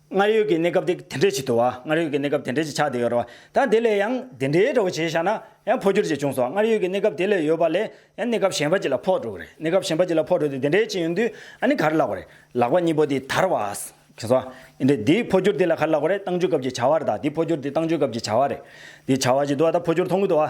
སྔར་ཡོད་ཀྱི་གནས་སྐབས་དེ་དེ་འདྲས་ཅིག་ཏུའོ། སྔར་ཡོད་ཀྱི་གནས་སྐབས་དེ་འདྲས་ཅིག་ཆགས་དེ་ཡོད་རོ། ད་དེ་ལས་ཡང་དེ་འདྲའི་གྲོགས་བྱས་བཞག་ན་ཡང་འཕོ་འགྱུར་ཅིག་འབྱུང་སོ། སྔར་ཡོད་ཀྱི་གནས་སྐབས་དེ་ལས་ཡོད་པ་ལས་ཡང་གནས་སྐབས་གཞན་པ་ཅིག་ལ་འཕོ་འགྲོ་གི་རེད། གནས་སྐབས་གཞན་པ་ཅིག་ལ་འཕོ་འགྲོ་དེ་དེ་འདྲས་ཅིག་ཡིན་དུས་ཨ་ནི་གར་ལགས་པ་རེད། ལག་པ་གཉིས་པོ་དེ་དར་བ། གིན་སོ། ཨི་འདྲས་དེའི་འཕོ་འགྱུར་དེ་ལ་གར་ལགས་པ་རེད་བཏང་འཇུག་སྐབས་ཀྱི་བྱ་བ་རེད་ད་དེའི་འཕོ་འགྱུར་དེ་བཏང་འཇུག་སྐབས་ཀྱི་བྱ་བ་རེད། དེའི་བྱ་བ་ཅིག་ཏུའོ་ད་འཕོ་འགྱུར་མཐོང་གི་ཏུའོ།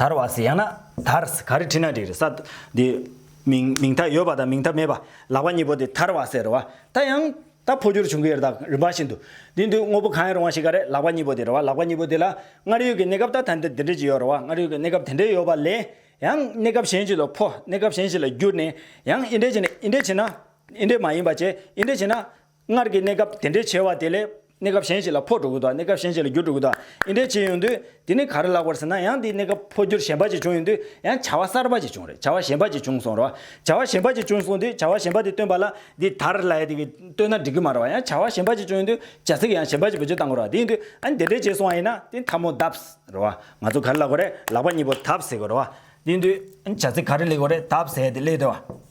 དར་བ་སི་ཡང་ན་དར་ག་རེ་བྲིས་ན་འགྲིག་རེད་ས་དེ། མིང་མིང་མཐའ་ཡོད་པ་དང་མིང་མཐའ་མེད་པ་ལག་པ་གཉིས་པོ་དེ་དར་བ་ཟེར་རོ་བ་ད་ཡང་ད་འཕོ་འགྱུར་བྱུང་གི་རེད་ད་རིམ་པ་བཞིན་དུ་དེ་འདུག་དངོས་པོ་གང་ཡང་རུང་བ་ཞིག་ག་རེད་ལག་པ་གཉིས་པོ་དེ་རེད་བ་ལག་པ་གཉིས་པོ་དེ་ལ་སྔར་ཡོད་ཀྱི་གནས་སྐབས་ད་ད་འདི་འདྲ་ཅིག་ཡོད་རེད་བ་སྔར་ཡོད་ཀྱི་གནས་སྐབས་དེ་འདྲ་ཡོད་པ་ལས་ཡང་གནས་སྐབས་གཞན་ཞིག་ལ་འཕོ་གནས་སྐབས་གཞན་ཞིག་ལ་བསྒྱུར་ནས་ཡང་ཨི་འདྲ་བྱས་ནས་ཨི་འདྲ་བྱས་ན་ཨི་འདྲ་མ་ཡིན་པ་བྱས་ཨི་འདྲ་བྱས་ན། སྔར་གྱི་གནས་སྐབས་དེ་འདྲའི་བྱ་བ་དེ་ལས། གནས་སྐབས་གཞན་ཞིག་ལ་འཕོ་འགྲོ་དགོས་དང་གནས་སྐབས་གཞན་ཞིག་ལ་འགྱུར་འགྲོ་དགོས་དང་དེ་འདྲའི་བྱས་ཡོང་དུས། དེ་ནི་ག་རེ་ལགས་པར་ཟེར་ན་ཡང་དེའི་གནས་སྐབས་འཕོ་འགྱུར་གཞན་པ་ཅིག་བྱུང་ཡོང་དུས་ཡང་བྱ་བ་གསར་པ་ཅིག་བྱུང་རེད་བྱ་བ་གཞན་པ་ཅིག་བྱུང་སོང་རེད། བྱ་བ་གཞན་པ་ཅིག་བྱུང་སོང་དུས་བྱ་བ་གཞན་པ་དེ་སྟོན་པ་ལ། འདི་དར་ལ་ཡ་དེ་གི་སྟོན་ན་འགྲིག་གི་མ་རེད་བ་ཡང་བྱ་བ་གཞན་པ་ཅིག་བྱུང་ཡོང་དུས་བྱ་ཚིག་ཡང་གཞན་པ་ཅིག་བེད་སྤྱོད་བཏང་དགོས་རེད་བ་དེ་ཡིན་དུས་ཨ་ནི་དེ་འདྲའི་བྱས་སོང་བ་ཡིན་ན་དེ་མཐའ་མོ་གདབས། རེད་བ། ང་ཚོ་ག་རེ་ལགས་པ་རེད་ལག་པ་གཉིས་པོ་གདབས་ཟེར་དགོས་རེད་བ། དེ་ཡིན་དུས་ཨ་ནི་བྱ་ཚིག་ག་རེ་གླེགས་དགོས་རེད་གདབས་ཟེར་ཡ་དེ་གླེགས་རེད་བ།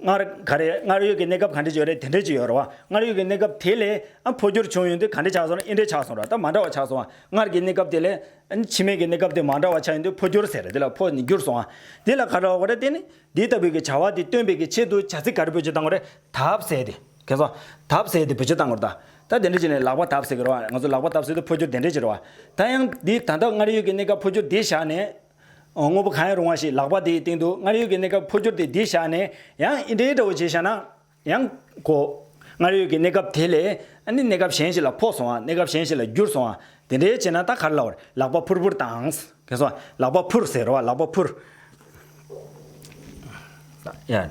སྔར་ག་རེ་སྔར་ཡོད་ཀྱི་གནས་སྐབས་ག་འདྲས་བྱུང་རེད་དེ་འདྲས་ཀྱི་ཡོད་རེད་བ། སྔར་ཡོད་ཀྱི་གནས་སྐབས་དེ་ལས་འཕོ་འགྱུར་བྱུང་ཡོད་དུས་ག་འདྲས་ཆགས་སོང་རེད་ཨེ་འདྲས་ཆགས་སོང་རེད་ད་མ་འདྲ་བ་ཆགས་སོང་བ། སྔར་གྱི་གནས་སྐབས་དེ་ལས་ཕྱི་མའི་གི་གནས་སྐབས་དེ་མ་འདྲ་བ་ཆགས་ཡོད་དུས་འཕོ་འགྱུར་ཟེར་རེད་དེ་ལ་འཕོ་ནི་འགྱུར་སོང་བ། དེ་ལ་ག་འདྲ་བ་གོ་རེད་དེ་ནི་འདི་ལྟ་བུའི་གི་བྱ་བ་དེ་སྟོན་པའི་གི་ཆེད་དུ་བྱ་ཚིག་ག་རེ་བོད་ཆེད་བཏང་གོ་རེད་དབ་བསལ་ཏེ་གལ་སོང། དབ་བསལ་ཏེ་བོད་ཆེད་བཏང་གོ་རེད་ད། ད་དེ་འདྲས་བྱས་ནས་ལག་པ་དབབ་བསལ་གི་རེད་བ་ང་ཚོ་ལག་པ་དབབ་བསལ་དུས་འཕོ་འགྱུར་དེ་འདྲས་ཀྱི་རེད་བ། ད་ཡང་འདི་ད་ལྟ་སྔར་ཡོད་ཀྱི་གནས་སྐབས་འཕོ་འགྱུར་འདི་བཞག་ནས། དངོས་པོ་གང་ཡང་རུང་བ་ཞིག་ལག་པ་དེའི་སྟེང་དུ་སྔར་ཡོད་ཀྱི་གནས་སྐབས་འཕོ་འགྱུར་དེ་འདིར་བཞག་ནས་ཡང་ཨི་འདྲའི་འདྲ་བོ་བྱེད་བཞག་ན། ཡང། གོ། སྔར་ཡོད་ཀྱི་གནས་སྐབས་དེ་ལས་ཨ་ནི་གནས་སྐབས་གཞན་ཞིག་ལ་ཕོག་སོང་བ་གནས་སྐབས་གཞན་ཞིག་ལ་བསྒྱུར་སོང་བ་དེ་འདྲའི་བྱེད་ན་ད་གར་ལ་བར་ལག་པ་ཕུར་ཕུར་དང། ཁེ་སོང་བ་ལག་པ་ཕུར་ཟེར་བ་ལག་པ་ཕུར། ཡ།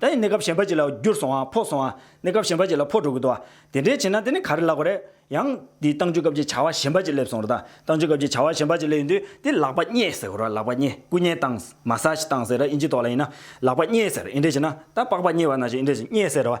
ད་ཡིན་གནས་སྐབས་གཞན་པ་ཅིག་ལ་བསྒྱུར་སོང་བ་ཕོག་སོང་བ། གནས་སྐབས་གཞན་པ་ཅིག་ལ་ཕོག་འགྲོ་གི་འདུག་བ། དེ་འདྲའི་བྱེད་ན་དེ་ནི་ག་རེ་ལགས་པ་རེད། ཡང། འདིས་ཏང་ཅུས་སྐབས་ཀྱི་བྱ་བ་གཞན་པ་ཅིག་སླེབས་སོང་ར་ད། ཏང་ཅུས་སྐབས་ཀྱི་བྱ་བ་གཞན་པ་ཅིག་སླེབས་ཡོད་དུས་དེ་ལག་པ་རྙེད་ཟེར་ར་ལག་པ་རྙེད་སྐུ་མཉེ་སྟངས། Massage། སྟངས་ཟེར་ར་དབྱིན་ཇི་ཐོག་ལ་ཡིན་ན། ལག་པ་རྙེད་ཟེར་ཨིན་འགྲེ་བྱེད་ན། ད་པགས་པ་རྙེད་བ་ན་ཞེས་ཨིན་འགྲེ་བྱེད་རྙེད་ཟེར་ར་བ།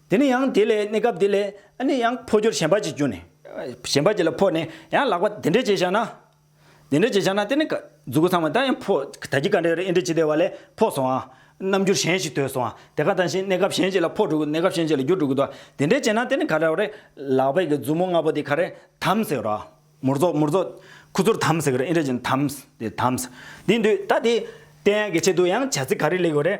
དེ་ནས་ཡང་དེ་ལས་གནས་སྐབས་དེ་ལས་ནི་ཡང་འཕོ་འགྱུར་གཞན་པ་གཅིག་གྱུར་ནས། གཞན་པ་གཅིག་ལ་འཕོ་ནས་ཡང་ལག་པ་དེ་འདྲའི་བྱས་བཞག་ན། དེ་འདྲའི་བྱས་བཞག་ན་དེ་ནི་གཟུགས་སྐུ་ཚང་མ་དང་ཡང་འཕོ། ད་ཀྱི་ཀ་འདྲའི་རེ་ཨེ་འདྲའི་ཇི་ལྟ་བ་ལས་འཕོ་སོང་ཨང། རྣམ་འགྱུར་གཞན་ཞིག་ཐོས་སོང་ཨང་དེ་ཀ་དང་བཞིན་གནས་སྐབས་གཞན་ཅིག་ལ་འཕོ་འགྲོ་གི་གནས་སྐབས་གཞན་ཅིག་ལ་འགྱུར་འགྲོ་གི་འདུག་དེ་འདྲའི་བྱས་ན་དེ་ནི་ག་འདྲ་བ་རེད། ལག་པའི་གི་མཛུབ་མོ་ལྔ་པོ་དེ་ག་རེ་དམ་ཟེར་རོ། མུར་རྫོགས་མུར་རྫོགས། ཁུ་ཚུར་དམ་ཟེར་གི་རེ་ཨེ་འདྲའི་ཇི་ནི་དམ། དེ་དམ། དེ་འདུག་ད་དེ། དེ་ཡང་གི་ཆེད་དུ་ཡང་བྱ་ཚིག་ག་རེ་ལེགས་ཡོད་རེད།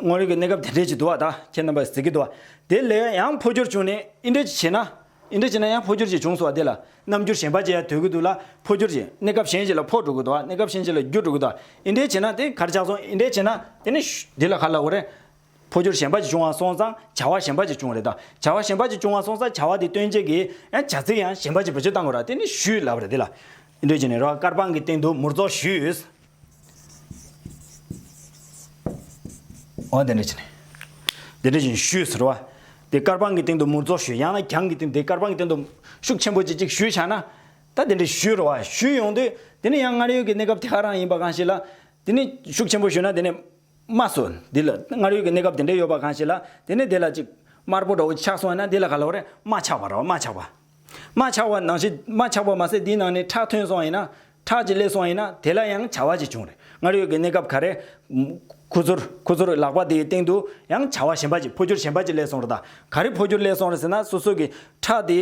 དངོས་ཡོད་ཀྱི་གནས་སྐབས་དེ་འདྲས་ཀྱི་དུ་བ་དག་ཁྱེད་རྣམ་པ་ཟེར་གྱི་འདུག་དེ་ལས་ཡང་འཕོ་འགྱུར་བྱུང་ནས་ཨི་འདྲས་ཀྱི་བྱས་ན། ཨི་འདྲས་བྱས་ན་ཡང་འཕོ་འགྱུར་གྱིས་བྱུང་སོགས་དེ་ལ་རྣམ་འགྱུར་གཞན་པ་ཅི་ཡང་དོད་ཀྱི་འདུག་ལ་འཕོ་འགྱུར་གྱིས་གནས་སྐབས་གཞན་ཞིག་ལ་འཕོ་འགྲོ་གི་འདུག་གནས་སྐབས་གཞན་ཞིག་ལ་འགྱུར་འགྲོ་གི་འདུག་ཨི་འདྲས་བྱས་ན་དེ་གར་ཆགས་སོང་ཨི་འདྲས་བྱས་ན་དེ་ནི། འདི་ལ་ག་ལ་འོ་རེད། འཕོ་འགྱུར་གཞན་པ་ཅིག་བྱུང་བ་སོང་ཙང་བྱ་བ་གཞན་པ་ཅིག་བྱུང་རེད་ད། བྱ་བ་གཞན་པ་ཅིག་བྱུང་བ་སོང་ཙང་བྱ་བ་དེ་སྟོན་བྱེད་ཀྱི་ཡང་བྱ་ཚིག་ཡང་གཞན་པ་ཅིག་བེད་སྤྱོད་བཏང་དགོས་ར་དེ་ནི་ཞུས་ལབ་རེད་དེ་ལ་ཨི་འདྲས་བྱས་ནས་རོ་ཀར་པང་གི་སྟེང་དུ་མུར་རྫོགས་ཞུས། འོ་དེ་འདྲ་བྱས་ནས། དེ་འདྲ་བཞིན་ཞུས་ཟེར་བ། དེ་སྐར་པང་གི་སྟེང་དུ་མུར་རྫོགས་ཞུས་ཡང་ན་གྱང་གི་སྟེང་དེ་སྐར་པང་གི་སྟེང་དུ། ཤུགས་ཆེན་པོ་ཅིག་ཅིག་ཞུས་བྱས་ན། ད་དེ་འདྲ་ཞུས་རོ་བ་ཞུས་ཡོང་དུས་དེ་ནི་ཡང་སྔར་ཡོད་ཀྱི་གནས་སྐབས་དེ་ག་རང་ཡིན་པ་གང་ཞིག་ལ། དེ་ནི་ཤུགས་ཆེན་པོ་ཞུས་ན་དེ་ནི། མ་སུ། འདི་ལ་སྔར་ཡོད་ཀྱི་གནས་སྐབས་དེ་འདྲ་ཡོད་པ་གང་ཞིག་ལ་དེ་ནི་དེ་ལ་ཅིག། དམར་པོ་འདྲ་བོ་ཅིག་ཆགས་སོང་ཡང་ན་དེ་ལ་ག་ལ་བ་རེ་མ་ཆགས་པ་རོ་མ་ཆགས་པ། མ་ཆགས་པ་ནང་བཞིན་མ་ཆགས་པ་མ་ཟད་དེའི་ནང་ནས་ཁྲག་ཐོན་སོང་ཡིན་ན། ཁྲག་གི་ལས་སོང་ཡིན་ན་དེ་ལ་ཡང་བྱ་བ་ཅིག་བྱུང་རེད་སྔར་ཡོད་ཀྱི་གནས་སྐབས་ག་རེ། ཁུ་ཚུར་ཁུ་ཚུར་ལག་པ་དེའི་སྟེང་དུ་ཡང་བྱ་བ་གཞན་པ་ཅིག་འཕོ་འགྱུར་གཞན་པ་ཅིག་ལས་སོང་རེད་ད་ག་རེ་འཕོ་འགྱུར་ལས་སོང་རེད་ཟེར་ན་སོ་སོ་གི་ཁྲག་དེ།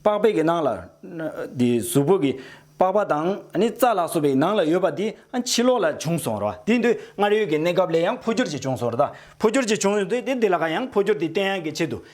པགས་པས་ཀྱི་ནང་ལ། དེ་གཟུགས་པོ་གི་པགས་པ་དང་ནི་རྩ་ལག་སོགས་པའི་ནང་ལ་ཡོད་པ་དེ་ཕྱི་ལོགས་ལ་བྱུང་སོང་རེད་དེ་དུས་སྔར་ཡོད་ཀྱི་གནས་སྐབས་ལས་ཡང་འཕོ་འགྱུར་ཅིག་བྱུང་སོང་རེད་ད་འཕོ་འགྱུར་ཅིག་བྱུང་ཡོང་དུས་དེ་དེ་ལ་ཁ་ཡང་འཕོ་འགྱུར་དེའི་བརྟན་ཡང་གི་ཆེད་དུ།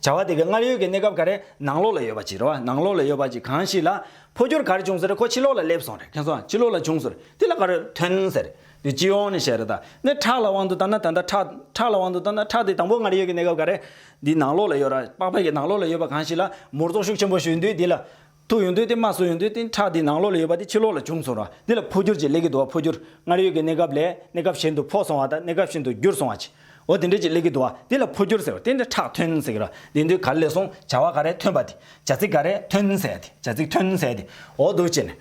བྱ་བ་དེ་གའི་སྔར་ཡོད་ཀྱི་གནས་སྐབས་ག་རེ་ནང་ལོགས་ལ་ཡོད་པ་གཅིག་རེད་བ། ནང་ལོགས་ལ་ཡོད་པ་གཅིག་གང་ཞིག་ལ། འཕོ་འགྱུར་ག་རེ་བྱུང་ཟེར་ཁོ་ཕྱི་ལོགས་ལ་སླེབས་སོང་རེད་མཁྱེན་སོང་ཕྱི་ལོགས་ལ་བྱུང་ཟེར་དེ་ལ་ག་རེ་ཐོན་ཟེར། དེ་སྤྱི་ཡོངས་ནས་བཤད་རེད་ད་ནི་ཁྲག་ལ་དབང་དུ་བཏང་ན་ད་ལྟ་ཁྲག། ཁྲག་ལ་དབང་དུ་བཏང་ན་ཁྲག་དེ་དང་པོ་སྔར་ཡོད་ཀྱི་གནས་སྐབས་ག་རེ། འདི་ནང་ལོགས་ལ་ཡོད་ར་དཔག་པ་ཡི་ནང་ལོགས་ལ་ཡོད་པ་གང་ཞིག་ལ་མོར་ཙོག་ཤུགས་ཆེན་པོ་ཞུས་དུས་དེ་ལ། ཐུག་ཡོང་དུས་དེ་མ་སོང་ཡོང་དུས་དེ་ཁྲག་འདི་ནང་ལོགས་ལ་ཡོད་པ་དེ་ཕྱི་ལོགས་ལ་བྱུང་སོང་ར་འདི་ལ་འཕོ་འགྱུར་གྱི་ལས་ཀྱི་དུ་བ་འཕོ་འགྱུར་སྔར་ཡོད་ཀྱི་གནས་སྐབས་ལས་གནས་སྐབས་གཞན་དུ་འཕོ་སོང་བ་དང་གནས་སྐབས་གཞན་དུ་འགྱུར་སོང་བ་ཅི་འོ་དེ་འདྲ་གྱི་ལས་ཀྱི་དུ་བ་དེ་ལ་འཕོ་འགྱུར་ཟེར་བ་དེ་འདྲ་ཁྲག་ཐོན་ཟེར་གི་ར་འདི་འདི་ག་ལས་སོང་བྱ་བ་ག་རེ་ཐོན་པ་དེ་བྱ་ཚིག་ག་རེ་ཐོན་ཟེར་ཡ་དེ་བྱ་ཚིག་ཐོན་ཟེར་ཡ་དེ་འོ་དོ་བྱས་ནས།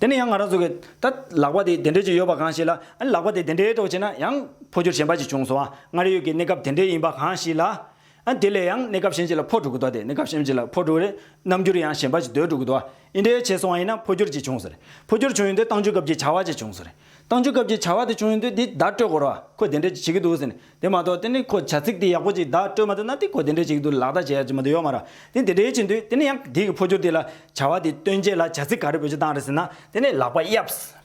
དེ་ནས་ཡང་ང་རང་ཚོ་གི་ད་ལག་པ་དེ་དེ་འདྲ་གྱི་ཡོད་པ་གང་ཞིག་ལ་ཨ་ནི་ལག་པ་དེ་དེ་འདྲའི་གྲོགས་བྱས་ན་ཡང་འཕོ་འགྱུར་གཞན་པ་ཅིག་བྱུང་སོང་བ་སྔར་ཡོད་ཀྱི་གནས་སྐབས་དེ་འདྲའི་ཡིན་པ་གང་ཞིག་ལ། དེ་ལས་ཡང་གནས་སྐབས་གཞན་གྱི་ལ་ཕོ་དྲུག་གི་དོ་སྟེ་གནས་སྐབས་གཞན་གྱི་ལ་ཕོ་དྲུག་རེད། རྣམ་འགྱུར་ཡང་གཞན་པ་གྱི་དོད་དྲུག་གི་དོ་ཨི་འདྲའི་བྱས་སོང་བ་ཡིན་ན་ཕོ་སྒྱུར་གྱིས་བྱུང་ཟེར། ཕོ་སྒྱུར་བྱུང་ཡོད་དུས་བཏང་འཇུག་སྐབས་ཀྱི་བྱ་བ་གྱིས་བྱུང་ཟེར། བཏང་འཇུག་སྐབས་ཀྱི་བྱ་བ་དེ་བྱུང་ཡོད་དུས་འདི་བརྡ་སྤྲོད་དགོས་ར་ཁོ་དེ་འདྲས་ཀྱི་བྱེད་ཀྱི་འདུག་ཟེར། དེ་མ་གཏོགས་དེ་ནི་ཁོ་བྱ་ཚིག་དེ་ཡག་པོ་གཅིག་བརྡ་སྤྲོད་མ་ཐུབ་ན་དེ་ཁོ་དེ་འདྲས་བྱེད་ཀྱི་འདུག་ལག་བརྡ་བྱེད་ཡག་གཅིག་མ་དེ་ཡོད་མ་ར། དེ་དེ་འདྲས་བྱེད་འདུག་དེ་ནི་ཡང་དེའི་ཕོ་སྒྱུར་དེ་ལ་བྱ་བ་དེ་སྟོན་རྗེས་ལ་བྱ་ཚིག་ག་རེ་བོད་ཀྱི་བཏང་རེད་ཟེར་ན་དེ་ནི་ལག་པ་གཡབས།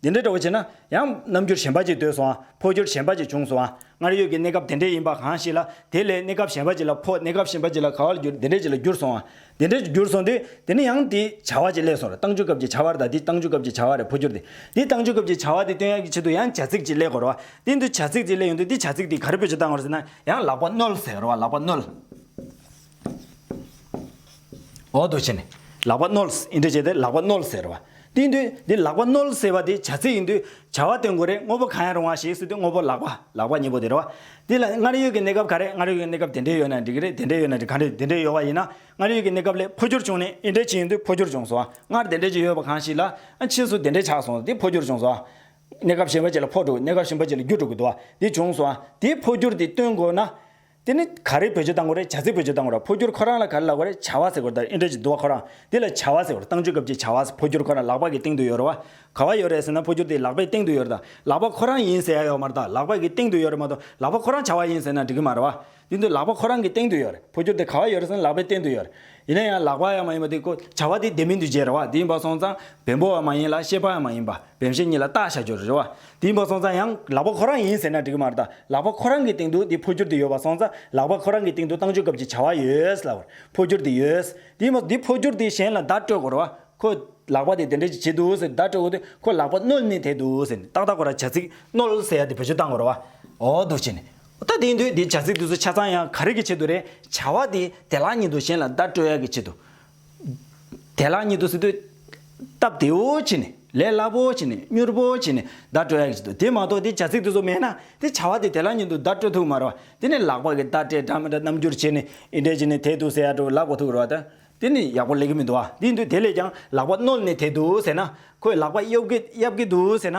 འདི་འདྲའི་བྲོ་བ་བྱས་ན་ཡང་རྣམ་འགྱུར་གཞན་པ་ཅིག་ཟློས་སུའང་འཕོ་འགྱུར་གཞན་པ་ཅིག་འབྱུང་སུའང་སྔར་ཡོད་ཀྱི་གནས་སྐབས་དེ་འདྲའི་ཡིན་པ་གང་ཞིག་ལ་དེ་ལས་གནས་སྐབས་གཞན་པ་ཅིག་ལ་འཕོ་གནས་སྐབས་གཞན་པ་ཅིག་ལ་ག་བར་འགྱུར་འདི་འདྲའི་ཅིག་ལ་འགྱུར་སོང་བ། འདི་འདྲའི་ཅིག་འགྱུར་སོང་དུས་དེ་ནི་ཡང་དེའི་བྱ་བ་ཅིག་ལས་སོང་རེད་བཏང་འགྱུར་སྐབས་ཀྱི་བྱ་བ་རེད་ད་དེའི་བཏང་འགྱུར་སྐབས་ཀྱི་བྱ་བ་རེད་འཕོ་འགྱུར་དེ་དེའི་བཏང་འགྱུར་སྐབས་ཀྱི་བྱ་བ་དེ་སྟོན་ཡག་གི་ཆེད་དུ་ཡང་བྱ་ཚིག་ཅིག་ལས་དགོས་རེད་བ། དེ་འདི་བྱ་ཚིག་ཅིག་ལས་ཡོང་དུས་འདི་བྱ་ཚིག་དེ་ག་རེ་བོད་ཀྱི་བཏང་བ་རེད་ཟེར་ན་ཡང་ལག་པ་བསྣོལ་ཟེར་རེད་བ་ལག་པ་བསྣོལ། འོག་ཏུ་ཕྱིན། ལག་པ་རྣོལ། ཨིན་དྲི་བྱས་ཏེ་ལག་པ་རྣོལ་ཟེར་བ། སྟེང་དུ། འདི་ལག་པ་རྣོལ་ཟེར་བ་དེ་བྱ་ཚིག་ཡིན་དུས་བྱ་བ་སྟོན་དགོས་རེད་དངོས་པོ་གང་ཡང་རུང་བ་ཞིག་སྲིད་དུས་དངོས་པོ་ལག་པ་ལག་པ་གཉིས་པོ་དེ་རེད། འདི་ལ་སྔར་ཡོད་ཀྱི་གནས་སྐབས་ག་རེད་སྔར་ཡོད་ཀྱི་གནས་སྐབས་དེ་འདྲས་ཡོད་ན་འགྲིག་གི་རེད་དེ་འདྲས་ཡོད་ན་འགྲིག་ག་རེད་དེ་འདྲས་ཡོད་བ་ཡིན་ན་སྔར་ཡོད་ཀྱི་གནས་སྐབས་ལས་འཕོ་འགྱུར་བྱུང་ནས་ཨིན་དྲི་བྱེད་ཡིན་དུས་འཕོ་འགྱུར་བྱུང་སོང་བ་སྔར་དེ་འདྲས་ཀྱི་ཡོད་བ་གང་ཞིག་ལ་ཕྱིས་སུ་དེ་འདྲས་ཆགས་སོང་དེ་འཕོ་འགྱུར་བྱུང་སོང་བ། གནས་སྐབས་གཞན་པ་ཅིག་ལ་འཕོ་འགྲོ་གནས་སྐབས་གཞན་པ་ཅིག་ལ་འགྱུར་འགྲོ་གི་འདུག་བ་དེ་བྱུང་སོང་བ་དེའི་འཕོ་འགྱུར་དེ་སྟོན་དགོས་ན། དེ་ནི་ག་རེ་བོད་ཆས་བཏང་གོ་རེད་བྱ་ཚིག་བོད་ཆས་བཏང་གོ་ར་ཕོ་སྐྱུར་ཁོ་རང་ལ་ག་རེ་ལག་པ་རེད་བྱ་བ་ཟེར་གོ་ར་དང་ཨེ་འདྲ་ཅིག་འདུག་བ་ཁོ་རང་འདི་ལ་བྱ་བ་ཟེར་གོ་ར་བཏང་ཆུ་སྐབས་ཀྱི་བྱ་བ་ཕོ་སྐྱུར་ཁོ་རང་ལག་པ་གི་སྟེང་དུ་ཡོད་ར་བ། ག་བ་ཡོད་རེད་ཟེར་ན་ཕོ་སྐྱུར་དེ་ལག་པའི་སྟེང་དུ་ཡོད་ར་དང་ལག་པ་ཁོ་རང་ཡིན་ཟེར་ཡ་ཡོད་མ་ར་དང་ལག་པ་གི་སྟེང་དུ་ཡོད་རེད་མ་གཏོགས་ལག་པ་ཁོ་རང་བྱ་བ་ཡིན་ཟེར་ན་འགྲིག་གི་མ་ར་བ། འདི་འདུག་ལག་པ་ཁོ་རང་གི་སྟེང་དུ་ཡོད་རེད་ཕོ་སྐྱུར་དེ་ག་བ་ཡོད་རེད་ཟེར་ན་ལག་པའི་སྟེང་དུ་ཡོད་རེད། ཡིན་ན་ཡང་ལག་པ་ཡང་མ་ཡིན་པ་དེ་ཀོ་བྱ་བ་དེ་བདེན་མིན་འདུ་བྱེད་རེ་བ་དེ་ཡིན་པ་སོང་ཙང་བེམ་པོ་བ་མ་ཡིན་ལ་ཤེས་པ་ཡང་མ་ཡིན་པ་བེམ་ཤེས་གཉིས་ལ་བརྟག་བྱ་རྒྱུ་རེ་བ་དེ་ཡིན་པ་སོང་ཙང་ཡང་ལག་པ་ཁོ་རང་ཡིན་ཟེར་ན་འགྲིག་གི་མ་རེད་ད་ལག་པ་ཁོ་རང་གི་སྟེང་དུ་དེ་འཕོ་འགྱུར་དེ་ཡོད་པ་སོང་ཙང་ལག་པ་ཁོ་རང་གི་སྟེང་དུ་བཏང་འཇུག་སྐབས་ཀྱི་བྱ་བ་ཡོད་ལ་བར་འཕོ་འགྱུར་དེ་ཡོད་དེ་ཡིན་པ་དེ་འཕོ་འགྱུར་དེ་གཞན་ལ་བརྡ་སྤྲོད་དགོས་རེ་བ་ཁོ་ལག་པ་དེ་དེ་འདྲ་ཅིག་བྱེད་འདུག་ཟེར་བརྡ་སྤྲོད་དགོས་དེ་ཁོ་ལག་པ་རྣོལ་ནི་དེ་འདུག་ཟེར་ནས་ཏག་ཏག་ཁོ་རང་བྱ་ཚིག་རྣོལ་ཟེར་ཡ་དེ་བེད་སྤྱོད་བཏང་དགོས་རེ་བ་འོ་འདུག་བྱས་ནས་ད་དེའི་མདོས་དེ་བྱ་ཚིག་དུས་སུ་ཆ་ཚང་ཡང་ག་རེ་གི་ཆེད་དུ་རེད། བྱ་བ་དེ་དེ་ལག་ཉིད་དུ་གཞན་ལ་བརྡ་སྤྲོད་ཡ་གི་ཆེད་དུ། དེ་ལག་ཉིད་དུ་ཟེར་དུས། སྟབས་བདེ་བོ་བྱས་ནས། ལས་སླ་བོ་བྱས་ནས། མྱུར་བོ་བྱས་ནས་བརྡ་སྤྲོད་ཡ་གི་ཆེད་དུ་དེ་མ་གཏོགས་དེ་བྱ་ཚིག་དུས་སུ་མེད་ན་དེ་བྱ་བ་དེ་དེ་ལག་ཉིད་དུ་བརྡ་སྤྲོད་ཐུབ་མ་རུང་བ། དེ་ནི་ལག་པ་གི་བརྡ་སྤྲད་འདྲ་མི་འདྲ་རྣམ་འགྱུར་བྱས་ནས་ཨི་འདྲས་བྱས་ནས་དེ་དུས་ཟེར་ཡ་འགྲོ་ལག་པ་ཐུག་རུ་བ་དང། དེ་ནི་ཡག་པོ་ལེགས་ཀི་མི་འདུག་ཨ་དེའི་མདོས་དེ་ལས་ཀྱང་ལག་པ་རྣོལ་ནས་དེ་དུས་ཟེར་ན། ཁོས་ལག་པ་གཡོབ་གི་གཡབ་གི་འདུག་ཟེར་ན།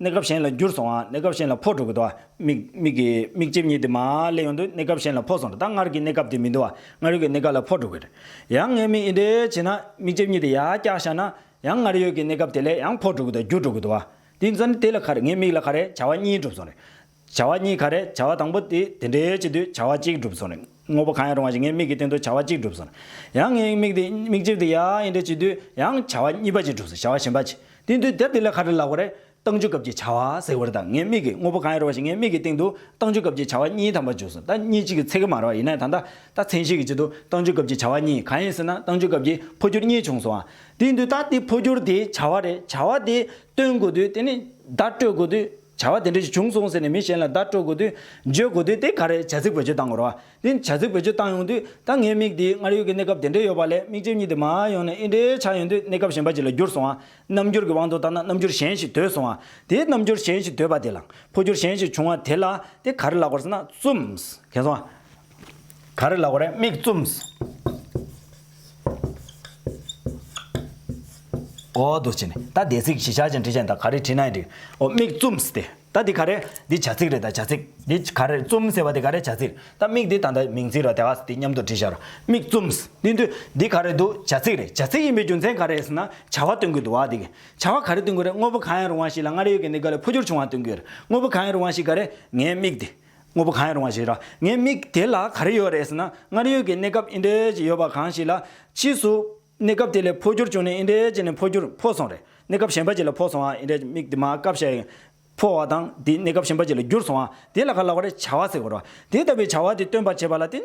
གནས་སྐབས་གཞན་ལ་འགྱུར་སོང་བ་གནས་སྐབས་གཞན་ལ་འཕོ་འགྲོ་གི་འདུག་བ། མིག་གི་མིག་ལྕིབས་གཉིས་དེ་མ་སླེབས་ཡོང་དུས་གནས་སྐབས་གཞན་ལ་འཕོ་སོང་རེད་ད་སྔར་གི་གནས་སྐབས་དེ་མི་འདུག་བ་སྔར་ཡོད་ཀྱི་གནས་སྐབས་ལ་འཕོ་འགྲོ་གི་རེད། ཡང་ངས་མིག་འདི་འདྲའི་བྱས་ན་མིག་ལྕིབས་གཉིས་དེ་ཡར་བཀྱགས་བཞག་ན་ཡང་སྔར་ཡོད་ཀྱི་གནས་སྐབས་དེ་ལས་ཡང་འཕོ་འགྲོ་གི་འདུག་བ་འགྱུར་འགྲོ་གི་འདུག་བ། དེ་ཚོ་ནི་དེ་ལ་ཁ་རེ་ངའི་མིག་ལ་ཁ་རེ་བྱ་བ་གཉིས་འགྲུབ་སོང་རེད། བྱ་བ་གཉིས་ག་རེད་བྱ་བ་དང་པོ་དེ་དེ་འདྲའི་ཡོད་ཀྱི་དུས་བྱ་བ་གཅིག་བསྒྲུབས་སོང་རེད་དངོས་པོ་གང་ཡང་རུང་བ་ཞིག་ངའི་མིག་གི་སྟེང་དུ་བྱ་བ་གཅིག་བསྒྲུབས་སོང་རེད་ཡང་ངའི་མིག་དེ་མིག་ལྕིབས་དེ་ཡང་ཡིན་འདྲ་བྱས་དུས་ཡང་བྱ་བ་གཉིས་པ་གཅིག་བསྒྲུབས་སོང་བྱ་བ་གཞན་པ་གཅིག་དེ་དུས་དེབ་དེ་ལས་ག་རེ་ལགས་པ་རེད་བཏང་འཇུག་སྐབས་ཀྱི་བྱ་བ་ཟེར་བ་རེད་ད་ངའི་མིག་གིས་དངོས་པོ་གང་ཡང་རུང་བ་ཞིག་ངའི་མིག་གི་སྟེང་དུ་བཏང་འཇུག་སྐབས་ཀྱི་བྱ་བ་གཉིས་ཐམ་པ་བརྗོད་སོང་ད་གཉིས་གཅིག་གི་ཚད་ཀྱི་མ་རེད་བ་ཡིན་ན་ད་ད་ད་མཚན་གཞི་གི་ཆེད་དུ་བཏང་འཇུག་སྐབས་ཀྱི་བྱ་བ་གཉིས་གང་ཡིན་ཟེར་ན་བཏང་འཇུག་སྐབས་ཀྱི་འཕོ་འགྱུར་གཉིས་བྱུང་སོང་བ་དེ་དུས་ད་དེ་འཕོ་འགྱུར་དེ་བྱ་བ་རེད་བྱ་བ་དེ་སྟོན་དགོས་དུས་དེ་ནི་བརྡ་སྤྲོད་དགོས་དུས། བྱ་བ་དེ་འདྲ་ཞིག་བྱུང་སོང་ཟེར་ནས་མི་གཞན་ལ་བརྡ་སྤྲོད་དགོས་དུས། བརྗོད་དགོས་དུས་དེ་ག་རེད་བྱ་ཚིག་བེད་སྤྱོད་བཏང་དགོས་རོ། དེ་བྱ་ཚིག་བེད་སྤྱོད་བཏང་ཡོང་དུས་ད་ངའི་མིག་འདིའི་སྔར་ཡོད་ཀྱི་གནས་སྐབས་དེ་འདྲས་ཡོད་པ་ལས་མིག་ལྕེབས་གཉིས་དེ་མ་ཡོང་ནས་ཨི་འདྲའི་ཆགས་ཡོང་དུས་གནས་སྐབས་གཞན་པ་ཅིག་ལ་འགྱུར་སོང་ཨ། རྣམ་འགྱུར་གྱི་དབང་དུ་བཏང་ན་རྣམ་འགྱུར་གཞན་ཞིག་དོད་སོང་ཨ། དེ་རྣམ་འགྱུར་གཞན་ཞིག་དོད་པ་དེ་ལ། འཕོ་འགྱུར་གཞན་ཞིག་བྱུང་ཨ་དེ་ལ་དེ་ག་རེ་ལགས་པར་ཟེར་ན་བཙུམས། གས་སོང་ཨ། ག་རེ་ལ་གོ་རེ་མིག་བཙུམས། འོ་འདུག་བྱས་ནས་ད་དེ་ཚིག་གཞི་ཆ་ཅན་འབྲི་བྱས་ནས་ད་ག་རེ་བྲིས་ན་ཡིན་འདྲི། འོ་མིག་བཙུམས་ཏེ་ད་འདི་ག་རེ་འདི་བྱ་ཚིག་རེད་ད་བྱ་ཚིག་འདི་ག་རེ་བཙུམས་ཟེར་བ་འདི་ག་རེ་བྱ་ཚིག་རེད་ད་མིག་འདི་ད་ད་མིང་ཚིག་ར་དེ་ག་འདི་མཉམ་དུ་བྲིས་བྱ་ར་མིག་བཙུམས་འདི་འདི་འདི་ག་རེ་འདུག་བྱ་ཚིག་རེད་བྱ་ཚིག་ཡིན་པའི་རྒྱུ་མཚན་ག་རེ་ཟེར་ན་བྱ་བ་སྟོན་གྱི་འདུག་བ་འདི་གི་བྱ་བ་ག་རེ་སྟོན་གྱི་རེད་དངོས་པོ་གང་ཡང་རུང་བ་ཞིག་ལ་སྔར་ཡོད་ཀྱི་འདི་ག་ལས་འཕོ་འགྱུར་བྱུང་བ་སྟོན་གྱི་རེད་དངོས་པོ་གང་ཡང་རུང་བ་ཞིག་ག་རེ་ངའི་མིག་འདི། དངོས་པོ་གང་ཡང་རུང་བ་ཞིག་རེད། ངའི་མིག་དེ་ལ་ག་རེ་ཡོད་རེད་ཟེར་ན། སྔར་ཡོད་ཀྱི་གནས་སྐབས་ཨི་འདྲའི་ཅིག་ཡོད་པ་གང་ཞིག་ལ། ཕྱིས་སུ། གནས་སྐབས་དེ་ལས་འཕོ་འགྱུར་བྱུང་ནས་ཨི་འདྲའི་ཅིག་ནས་འཕོ་འགྱུར་འཕོ་སོང་རེད། གནས་སྐབས་གཞན་པ་ཅིག་ལ་འཕོ་སོང་བ་ཨི་འདྲའི་ཅིག་མིག་དེ་མ་སྐབས་ཤིག། འཕོ་བ་དང་དེ་གནས་སྐབས་གཞན་པ་ཅིག་ལ་འགྱུར་སོང་བ་དེ་ལ་ག་ལ་བ་རེད་བྱ་བ་ཟེར་དགོས་རོ། དེ་ལྟ་བུའི་བྱ་བ་དེ་སྟོན་པར་བྱེད་པ་ལ་བརྟེན།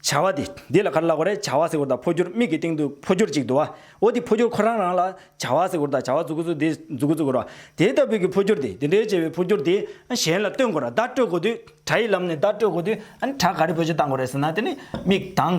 བྱ་བ་དེ་འདི་ལ་ག་རེ་ལ་གོ་རེ་བྱ་བ་ཟེ་གོ་ར་དང་འཕོ་འགྱུར་མིག་གི་སྟེང་དུ་འཕོ་འགྱུར་ཅིག་འདུ་བ་འོ་དེ་འཕོ་འགྱུར་ཁོ་རང་རང་ལ་བྱ་བ་ཟེ་གོ་ར་དང་བྱ་བ་འཛུག་གོ་ཚུལ་དེ་འཛུག་གོ་ཚུལ་གོ་ར་དེ་ལྟ་བུའི་གི་འཕོ་འགྱུར་དེ་དེ་འདྲའི་བྱེད་པའི་འཕོ་འགྱུར་དེ་གཞན་ལ་སྟོན་གོ་ར་བརྡ་སྤྲོད་གོ་དུས་སྒྲ་ཡི་ལམ་ནས་བརྡ་སྤྲོད་གོ་དུས་སྒྲ་ག་རེ་འཕོ་འགྱུར་བཏང་གོ་རེ་ཟེར་ན་དེ་ནི་མིག་དང།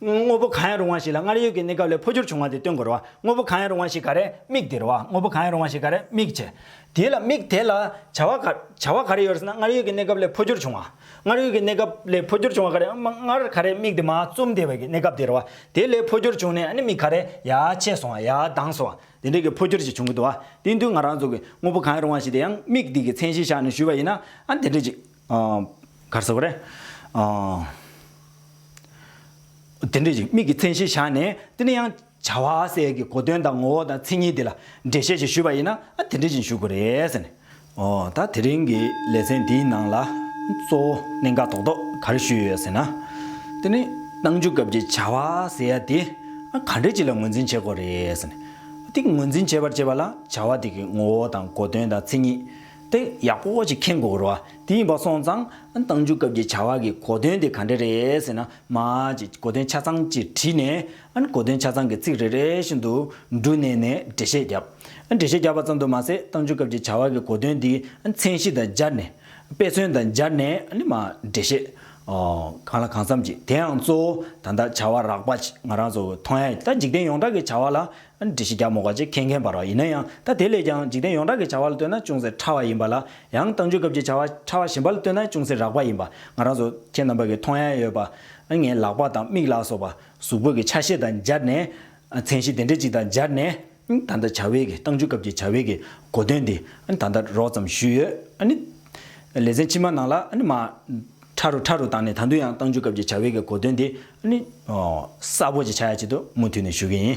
དངོས་པོ་གང་ཡང་རུང་བ་ཞིག་ལ་སྔར་ཡོད་ཀྱི་གནས་སྐབས་ལས་འཕོ་འགྱུར་བྱུང་བ་དེ་སྟོན་དགོས་རུང་བ། དངོས་པོ་གང་ཡང་རུང་བ་ཞིག་ག་རེ་དམིགས་དེ་རུང་བ། དངོས་པོ་གང་ཡང་རུང་བ་ཞིག་ག་རེ་དམིགས་བྱེད་དེ་ལ་དམིགས་དེ་ལ་བྱ་བ་ག། བྱ་བ་ག་རེ་ཡོད་ཟེར་ན་སྔར་ཡོད་ཀྱི་གནས་སྐབས་ལས་འཕོ་འགྱུར་བྱུང་བ། སྔར་ཡོད་ཀྱི་གནས་སྐབས་ལས་འཕོ་འགྱུར་བྱུང་བ་ག་རེ་སྔར་ག་རེ་དམིགས་དེ་མ་བཙུམས་དེ་བས་ཀྱི་གནས་སྐབས་དེ་རུང་བ། དེ་ལས་འཕོ་འགྱུར་བྱུང་ནས་ཨ་ནི་མིག་ག་རེ་ཡ་ཆད་སོང་བ་ཡ་དྭངས་སོང་བ་དེ་འདྲའི་གྱི་འཕོ་འགྱུར་ཞིག་བྱུང་གི་འདུག་བ་དེའི་མདུན་ང་རང་ཚོ་གིས་དངོས་པོ་གང་ཡང་རུང་བ་ཞིག་དེ་ཡང་དམིགས་དེ་གྱི་མཚན་གཞི་བཞག་ནས་ཞུས་པ་ཡིན་ན་ཨ་ནི་དེ་འདྲའི་གྱི། གར་ཟེར་བ་རེད། དེ་འདྲ་ཞིག་དམིགས་ཀྱི་མཚན་གཞི་བཞག་ནས་དེ་ནས་ཡང་བྱ་བ་སའི་གི་གོ་དོན་དང་ངོ་བོ་དང་མཚན་ཉིད་དེ་ལ་འགྲེལ་བཤད་ཞིག་ཞུས་པ་ཡིན་ན་ཨ་དེ་འདྲ་ཞིག་ཞུ་དགོས་རེད་ཟེར་ནས། ཨོ་ད་དེ་རིང་གི་ལེ་ཚན་འདིའི་ནང་ལ་གཙོ་བོ་གནད་འགག་དོག་དོག་གར་ཞུས་ཡོད་ཟེར་ན། དེ་ནི་གནང་རྒྱུ་སྐབས་ཀྱི་བྱ་བ་ཟེར་ཡ་དེ་ག་འདྲ་ཞིག་ལ་ངོས་འཛིན་བྱེད་དགོས་རེད་ཟེར་ནས། དེ་ངོས་འཛིན་བྱེད་པར་བྱེད་པ་ལ་བྱ་བ་དེ་གི་ངོ་བོ་དང་གོ་དོན་དང་མཚན་ཉིད། དེ་ཡག་པོ་ཞིག་མཁྱེན་དགོས་རོ། དེ་ཡིན་པ་སོང་ཙང། གཏང་རྒྱུ་སྐབས་ཀྱི་བྱ་བ་གི་གོ་དོན་དེ་ག་འདྲ་རེད་ཟེར་ན། མ་ཅིག་གོ་དོན་ཆ་ཚང་ཅིག་བྲིས་ནས། གོ་དོན་ཆ་ཚང་གི་ཚིག་རེ་རེ་བཞིན་དུ་འབྲུ་བསྣན་ནས་འགྲེལ་བཤད་བརྒྱབ། འགྲེལ་བཤད་བརྒྱབ་པ་ཙམ་དུ་མ་ཟད་གཏང་རྒྱུ་སྐབས་ཀྱི་བྱ་བ་གི་གོ་དོན་དེ་མཚན་གཞི་དང་སྦྱར་ནས། དཔེ་མཚོན་དང་སྦྱར་ནས་མ་འགྲེལ་བཤད། གང་ལ་གང་འཚམ་ཅིག་དེའང་གཙོ་བོ་ད་ལྟ་བྱ་བ་རགས་པ་ཅིག་ང་རང་ཚོ་མཐོང་ཡ་ཡིན་ད་འཇིག་རྟེན་ཡོངས་གྲགས་ཀྱི་བྱ་བ་ལ་འདྲི་གཞི་རྒྱ་མོ་ག་ཅིག་མཁྱེན་མཁན་པར་བ་ཡིན་ན་ཡང་ད་དེ་ལས་ཀྱང་འཇིག་རྟེན་ཡོངས་གྲགས་ཀྱི་བྱ་བ་ལ་ལྟོས་ན་ཅུང་ཟད་ཕྲ་བ་ཡིན་པ་ལ་ཡང་བཏང་འཇུག་སྐབས་ཀྱི་བྱ་བ་ཕྲ་བ་ཞིམ་པ་ལ་ལྟོས་ན་ཅུང་ཟད་རགས་པ་ཡིན་པ་ང་རང་ཚོ་ཁྱེད་རྣམ་པ་གི་མཐོང་ཡ་ཡོད་པ་ངའི་ལག་པ་དང་མིག་ལག་སོགས་པ་གཟུགས་པོ་གི་ཆ་ཤས་དང་སྦྱར་ནས་མཚན་གཞི་དེ་འདྲ་ཅིག་དང་སྦྱར་ནས་ད་ལྟ་བྱ་བའི་གི་བཏང་འཇུག་སྐབས་ཀྱི་བྱ་བའི་གི་གོ་དོན་དེ་ད་ལྟ་རོགས་ཙམ་ཞུས་ཡོད། ལེ་ཚན་ཕྱི་མ་ནང་ལ་མ་ཕྲ་རུ་ཕྲ་རུ་བཏང་ནས་ད་དུང་ཡང་བཏང་འཇུག་སྐབས་ཀྱི་བྱ་བའི་གི་གོ་དོན་དེ་གསལ་པོ་ཅིག་ཆགས་ཡ་ཆེད་དུ་མུ་མཐུད་ནས་ཞུ་གི་ཡིན།